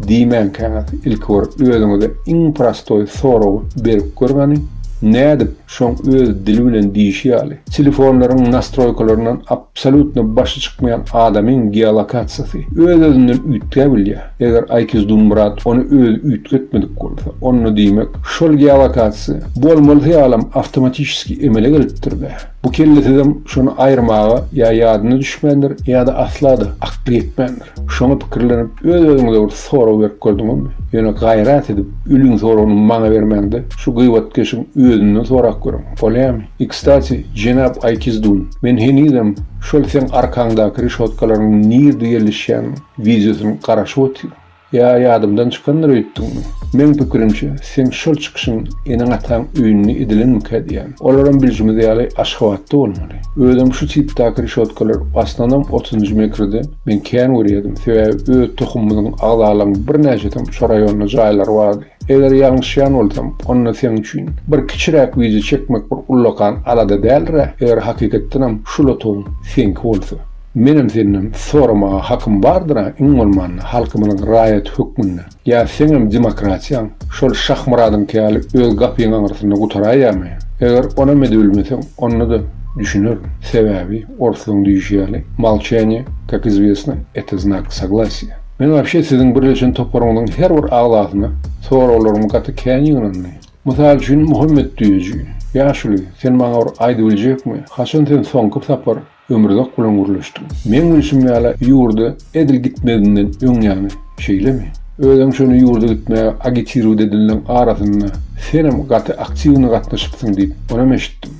Speaker 1: diýmänkäňiz ilki bir özüňize iň prostoý soragy berip görüň hany nädip Şoň öz dili bilen diýişi ýaly, telefonlaryň nastroýkalaryndan absolýutno başy çykmaýan adamyň geolokasiýasy öz-özünden üýtgä bilýär. Eger Aýkis Dunmyrat ony özi üýtgetmedik bolsa, onda diýmek, şol geolokasiýa bolmalysy ýalam awtomatişeski emele gelipdir-dä. Bu kellesizem şony aýyrmaga ýa ýadyna düşmändir, ýa-da asla-da akly ýetmändir. Şoňa pikirlenip, öz-özüňize bir sorag berip gördüňizmi? Ýöne gaýrat edip, ülüň soragyny maňa bermäň-de, şu gybatkeşiň özünden sorap görüň, bolýamy? I, kstati, jenap Aýkizdun, men henizem şol seň arkaňdaky reşotkalaryň nirde ýerleşýän wideosyny garaşyp otyryn. Ýa ýadymdan çykandyr öýtdüňmi? Meň pikirimçe, seň şol çykyşyň eneň-ataň öýünde edilenmikä diýýän. Olaram bilşimiz ýaly Aşgabatda bolmaly. Özem şu tipdäki rişotkalar aslanam otuzynjy metrde men kän görýärdim, sebäbi öz tohumymyzyň agzalaryň birnäçesem şo raýonda jaýlary bardy. Eger ýalňyşýan bolsam, onda seň üçin bir kiçiräk wideo çekmek bir ullakan alada däldir-ä, eger hakykatdanam şu lotuň seňki bolsa. Menem senden soramaga hakym bardyr-a, iň bolmanda halkymyzyň raýaty hökmünde. Ýa seňem demokratiýaň şol Şahmyradyňky ýaly öz gapyň aňyrsynda gutaraýamy? Eger onam edibilmeseň, onda-da düşünerin. Sebäbi, orslyň düýşi ýaly, Molçaniýe, kak izwesno, eto znak soglasiýa. Men wapşe siziň birleşen toparyňyzyň her bir agzasyna soraglarym gaty kän ýygnandy. Mysal üçin, Muhammet düýeji, Ýaşuly, sen maňa bir aýdybiljekmi, haçan sen soňky sapar Ömürzak bilen gürleşdiň. Meň bilşim ýaly, ýurda edil gitmegiňden öň ýaňy, şeýlemi? Özem şony ýurda gitmäge agitiruwt edildiň arasynda senem gaty aktiwny gatnaşypsyň diýip, onam eşitdim.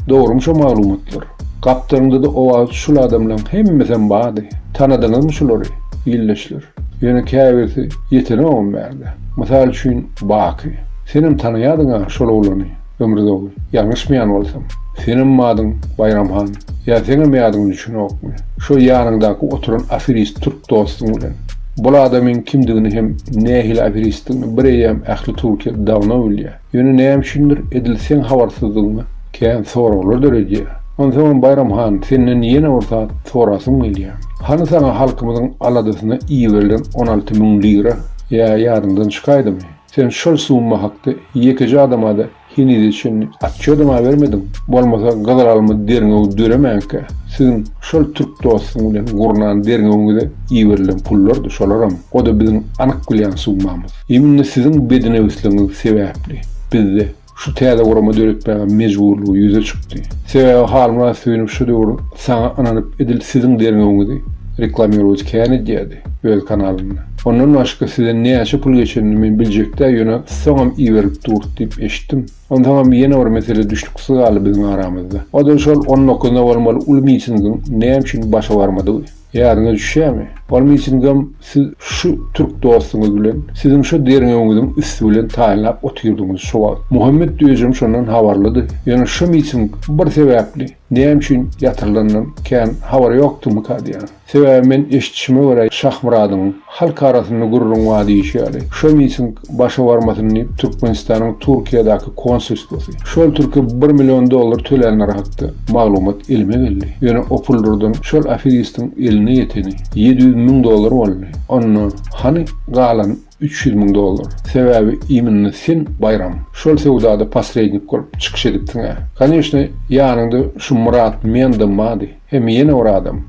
Speaker 1: Dogrymy şo maglumatlar? Gapdalyňda-da owaz şul adamlaň hemmesem bady. Tanadyňyzmy şulary, ildeşler? Ýöne käbirsi ýetenogam bärde. Mysal üçin, Baky. Senem tanaýadyň-a şol oglany. Ömrüzogly, ýalňyşmaýan bolsam, senem madyň Baýram han, ýa seňem ýadyňa düşenokmy, şo ýanyňdaky oturan aferist türk dostuň bilen. Bul adamyň kimdigini hem nähili aferistdigini bireýýäm ähli Türkiýe dawno bilýä. Ýöne näme üçindir edil seň habarsyzdygyňa kän soraglar döredýä. Onsoňam Baýram han, senden ýene bir zat sorasym gelýä. Hany saňa halkymyzyň aladasyna iberilen on alty müň lira, ýa ýadyňdan çykaýdymy? Sen şol summa hakda ýekeje adama-da henize çenli otçýodam-a bermediň. Bolmasa gyzylelma derňewi döremänkä, siziň şol türk dostuň bilen gurnan derňewiňize iberilen pullardy şolaram, o-da biziň anyk bilýän summamyz. Immnna siziň bednewsligiňiz sebäpli bizde Şu täze gurama döretmäge mejburlygy ýüze çykdy. Sebäbi Harun Rasynow şu döwür saňa ynanyp edil siziň derňewiňizi reklamirowat kän edýärdi öz kanalynda. Ondan başga size näçe pul geçenini men biljekdä ýöne soňam iberilip dur diýip eşitdim. Onsoňam ýene bir mesele düşnüksiz galdy biziň aramyzda. Oda şol on dokuzynda bolmaly uly mitingiň näme üçin başa barmadygy. Ýadyňa düşýämi? Onuň üçinem siz şu türk dostuňyz bilen siziň şo derňewiňiziň üsti bilen taýynlap otyrdyňyz şo wagt. Muhammet özem şondan habarlydy. Ýöne şo miting bir sebäpli näme üçin ýatyrylandan kän habary ýokdymyka diýýän. Sebäbi men eşitişime görä Şahmyradyň Halk arasynda gürrüň bar diýşi ýaly, şo miting başa barmasyn diýip, Türkmenistanyň Türkiýedäki konsulstwasy, şol türke bir million dollar tölänleri hakda maglumat elime geldi. Ýöne o pullardan şol aferistiň eline ýeteni ýedi ýüz müň dollar boldy. Onda hany galan üç ýüz müň dollar? Sebäbi iminna sen, Baýram, şol söwdada posrednik bolup çykyş edipsiň-ä. Koneşne, ýanyňda şu Myrat Mendam bardy. Hem ýene bir adam,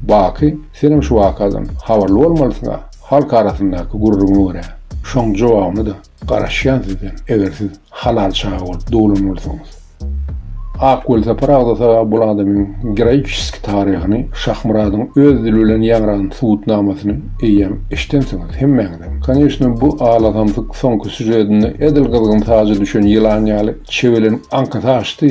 Speaker 1: Baky, senem şu wakadan habarly bolmalysyň-a, halk arasyndaky gürrüňe görä. Şoň jogabyny-da garaşýan sizden, eger siz halal çaga bolup doglan bolsaňyz. Ak welosipar agzasa bul adamyň geroiçeski taryhyny, Şahmyradyň öz dili bilen ýaňradan subutnamasyny eýýäm eşidensiňiz hemmäňizem. Koneçne bu alasamsyk soňky sýužedinde edil gyzgyn saja düşen ýylan ýaly çewelenip aňkasy açdy,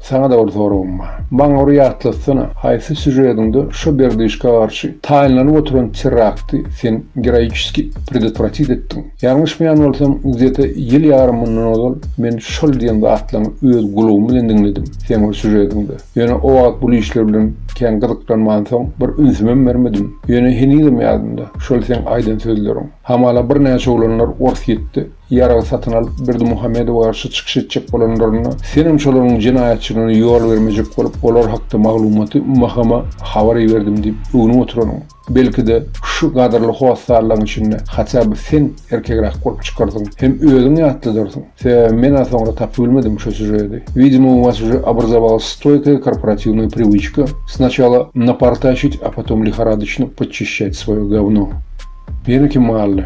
Speaker 1: Saňa-da bir soragym bar. Maňa bir ýatlatsana, haýsy sýužediňde şo Berdyşka garşy taýynlanyp oturan terrakty sen geroiçeskiý predotwratit etdiň? Ýalňyşmaýan bolsam, gzeta ýyl ýarym mundan ozal men şol diýen zatlaňy öz gulagym bilen diňledim seň bir sýužediňde. Ýöne o wagt bul işler bilen kän gyzyklanmansoň, bir ünsümem bermedim. Ýöne henizem ýadymda şol seň aýdan sözleriň. Hamala birnäçe oglanlar Orsýetde Ýarag satyn alyp, Berdimuhamedowa garşy çykyş etjek bolanlarynda, senem şolaryň jenaýatçylygyna ýol bermejek bolup, olar hakda maglumaty MHM-a habar iberdim diýip öwnüp oturanyň, belki-de, şu gadyrly hossarlaryň içinde haçan bir sen erkegräk bolup çykarsyň hem özüň ýatladyrsyň. Sebäbi men-ä soňra tapybilmedim şu sýužedi. Widimo, u was uje obrazowalась stoýkaýa korporatywnaýa priwiçka, snaçala napartaşit, a potom lihoradoçno podçişçat swoýe gowno. Ýene kim galdy?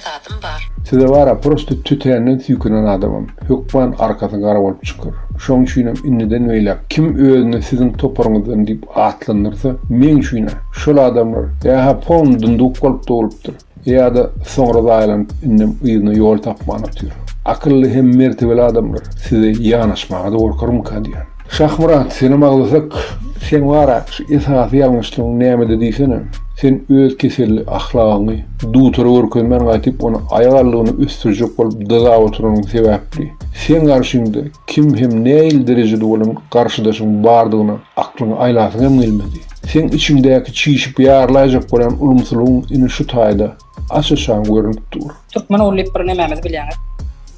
Speaker 1: zadym bar. Size bara prosto tötänden süýkenen adamam hökman arkasy gara bolup çykar. Şoň üçinem indiden beýläk kim özüni siziň toparyňyzdan diýip atlandyrsa, meň üçin-ä şol adamlar ýa-ha polny dunduk bolup dogulupdyr, ýa-da soňra zaýalanyp indem yzyna ýol tapman otyr. Akylly hem mertebeli adamlar size ýanaşmaga-da gorkarmyka diýýän. Şahmyrat, senem aglasak, seň bara şu esasy ýalňyşlygyň nämede diýsene? Sen öz keselli ahlagyňy dutara görkezmän gaýtyp ony aýak aldygyna ösdürjek bolup dyzap oturanyň sebäpli. Seň garşyňda kim hem nähili derejede bolan garşydaşyň bardygyna aklyňy aýlasyň hem gelmedi. Seň içiňdäki çişip ýarlaýjak bolýan ulumsylygyň ine şu taýda Açyşan görünip dur. Türkmen ogly diýip bir nemämizi bilýäňiz.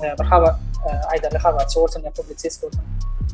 Speaker 1: E, bir habar e, aýdarly habarçy bolsun ýa publisist bolsun.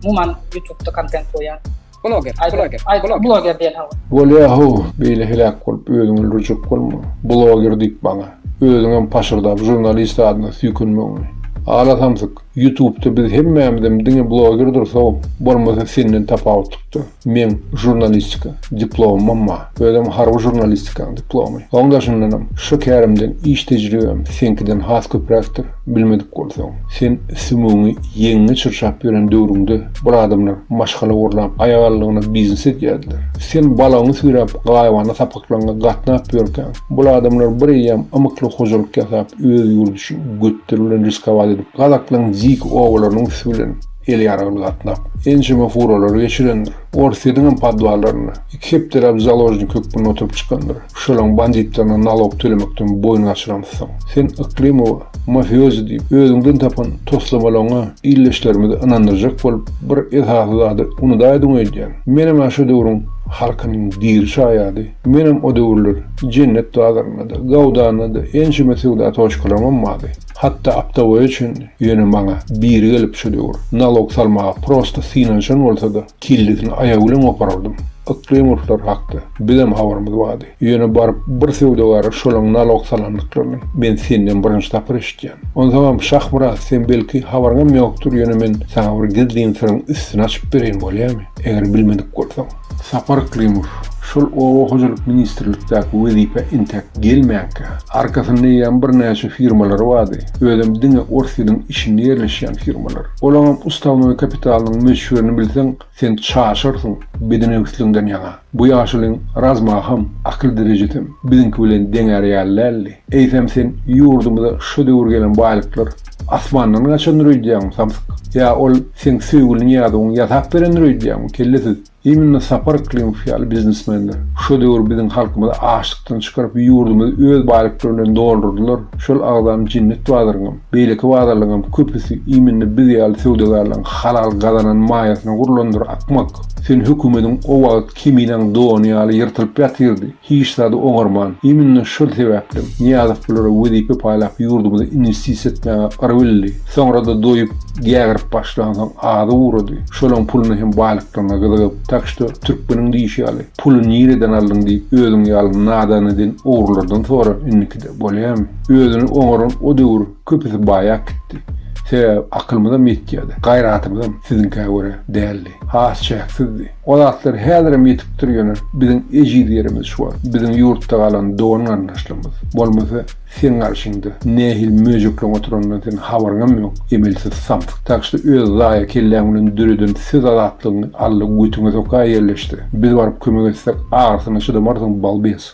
Speaker 1: Umuman YouTube-da kontent goýýan. Bloger, bloger, bloger. Bloger diýen hawa. Bolýa ho, beýle heläk bolup özüňi öldürjek bolma. Bloger diýip bana. Özüň hem paşyrdap žurnalist adyna süýkünmegiňi. Ala samsyk, YouTube-da biz hemmämizem diňe blogerdir so, bolmasa senden tapawutlykdyr. Meň žurnalistika diplomym ba, özem harby žurnalistikaň diplomy. Oň daşyndanam, şo kärimden iş tejribem seňkiden has köpräkdir. Bilmedik bolsaň, sen sümügiňi ýeňiňe çyrçap ýören döwrüňde bir adamlar maşgala gurlap, aýagallygyna biznes edýärdiler. Sen balagyňy süýräp, gaýybana sapaklaryňa gatnap ýörkäň, bul adamlar bir eýýäm ymykly hojalyk ýasap, öz ýurdy üçin götleri bilen riskowat edip, gazaklaň dik obalarynyň üsti bilen, Ýel ýaragly gatlap, ençeme furalary geçirendir. Orsýetiň hem podwallarynda iki hepdeläp založnik hökmünde oturyp çykandyr. Şolaň banditlerine nalog tölemekden boýun gaçyramyzsoň, sen Yklymowa mafiozi diýip, özüňden tapan toslamalaryňa ildeşlerimizi ynandyrjak bolup, bir esasy zady unudaýdyň öýdýän. Menem-ä şo döwrüň halkynyň diri şaýady. Menem o döwürler Jennet bazarynda-da, Gawdanda-da ençeme söwda toçkalaryňam bardy. Hatda aptawoýa üçin ýöne maňa biri gelip düşedi ugr. Nalog salmaga prosta synanyşan bolsada kellesini aýagy bilen goparardym. Ykjam urşlar hakda bizem habarymyz bardy. Ýöne baryp bir söwdagara şolaň nalog salandyklaryny men senden birinji sapar eşitýän. Onsaňam Şahmyrat sen belki habaryňam ýokdur ýöne men saňa bir gizlin syryň üstüni açyp bereýin bolýamy? Eger bilmedik bolsaň. Sapar Klimow şol oba hojalyk ministrlikdäki wezipä entäk gelmänkä, arkasynda eýýäm birnäçe firmalary bardy, özem diňe ors ýylyň içinde ýerleşýän firmalar. Olaňam ustawnoý kapitalynyň möçberini bilseň, sen çaşarsyň bedenewsligiňden ýaňa. Bu ýaşulyň razmaham, akyl derejesem biziňki bilen deňär ýaly däldi. Eýsem sen ýurdumyza şu döwür gelen baýlyklar Asmandan gaçandyr öýdýäňmi, samsyk? Ýa ol seň söýgüli Nyýazowyň ýasap berendir öýdýäňmi, kellesiz? Imенно Sapar Klimow ýaly biznesmenler şu döwür biziň halkymyzy açlykdan çykaryp, ýurdumyzy öz baýlyklary bilen doldurdylar, şol agzam jennet bazaryňam, beýleki bazarlaryňam köpüsi imенно biz ýaly söwdagärleriň halal gazanan maýasyna gurlandyr, akmak! Sen hökümediň o wagt Keminaň dony ýaly ýyrtylyp ýatyrdy. Hiç zady oňarman, iminne şol sebäplem Nyýazow bulara wezipe paýlap ýurdumyza inwestisiýa etmäge gyr bildi. Soňra-da doýup, gägirip başlansoň azy ugrady. Şolaň puluna hem baýlyklaryna gyzygyp. Tak şto, türkmeniň diýşi ýaly, puly nireden aldyň diýip özüň ýaly nadan eden ogrulardan sora indikide, bolýamy? Özüni oňaran o döwür köpüsi baýap gitdi. Sebäbi akylymyzam ýetýädi, gaýratymyzam siziňkä görä däldi. has çäksizdi. O zatlar häzirem ýetipdir ýöne biziň ejiz ýerimiz şu wagt biziň ýurtda galan dogan garyndaşlarymyz. Bolmasa seň garşyňda nähili möjekleň oturanyndan seniň habaryňam ýok. Emelsiz samsyk tagşyr öz zaýa kelläň bilen döreden söz azatlygyňy Alla götüňe soka ýerleşse. Biz baryp kömek etsek agyrysyna çydamarsyň balbes.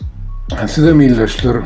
Speaker 1: Sizem ildeşler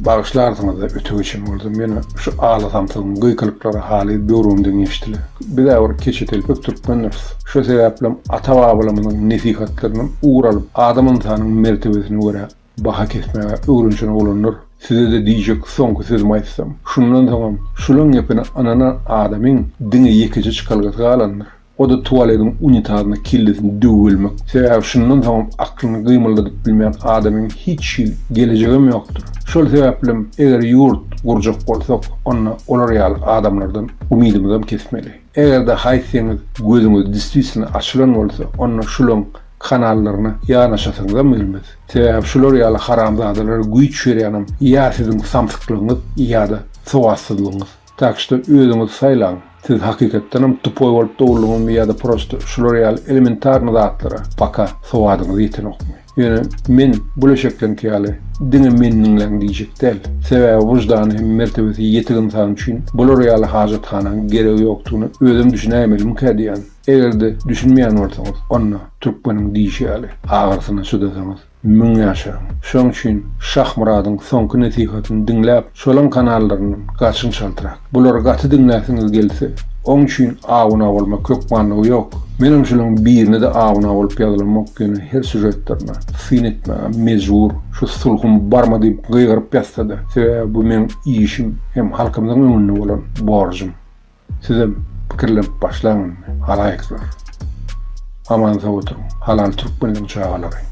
Speaker 1: bagyşlarsyňyzda öte geçen boldum. Meni şu aly samsygyň gykylyklary haly böwrümden geçdiler. Biz äbir keçe telpek türkmendiris. Şo sebäplem ata babalarymyzyň nesihatlaryndan ugur alyp adam ynsanyň mertebesine görä baha kesmäge öwrenşen oglanlar. Sizede diýjek soňky sözümi aýtsam. Şundan soňam şulaň gepine ynanan adamyň diňe ýekeje çykalgasy galandyr. O-da tualediň unitazyna kellesini döwüp ölmek. Sebäbi şundan soňam aklyny gymyldadyp bilmeýän adamyň hiç hil gelejegem ýokdur. Şol sebäplem eger ýurt gurjak bolsak, onda olar ýaly adamlardan umydymyzam kesmeli. Eger-de haýsyňyz gözüňiz diswitilno açylan bolsa, onda şulaň kanallaryna ýanaşasyňyzam gelmez. Sebäbi şular ýaly haramzadalara güýç berýänem ýa siziň samsyklygyňyz, ýa-da sowatsyzlygyňyz. Tak što özüňiz saýlaň, siz hakykatdanam tupoý bolup doguldyňyzmy ýa-da prosto şular ýaly elementarny zatlara paka sowadyňyz ýetenokmy? Ýöne men bu leşekleňki ýaly diňe meni diňläň diýjek däl. Sebäbi wyždany hem mertebesi ýetik ynsan üçin bular ýaly hajathanaň geregi ýokdugyna özem düşünäýmeliňkä diýýän. Eger-de düşünmeýän bolsaňyz, onda türkmeniň diýşi ýaly, agyrsyna çydasaňyz. Müň ýaşaň. Şoň üçin Şahmyradyň soňky nesihatyny diňläp, şolaň kanallaryndan gaçyň çaltrak. Bulary gaty diňläsiňiz gelse, oň üçin awuna bolmak hökmanlygy ýok. Menem şulaň birine-de awuna bolup ýazylamok, ýöne her sýužetlerine syn etmäge mejbur. Şu sulhum barma diýip gygyryp ýazsada, sebäbi bu meň işim hem halkymyzyň öňünde bolan borjum. Sizem pikirlenip başlaň indi halaýyklar. Aman sag oturyň halal türkmenligiň çagalary.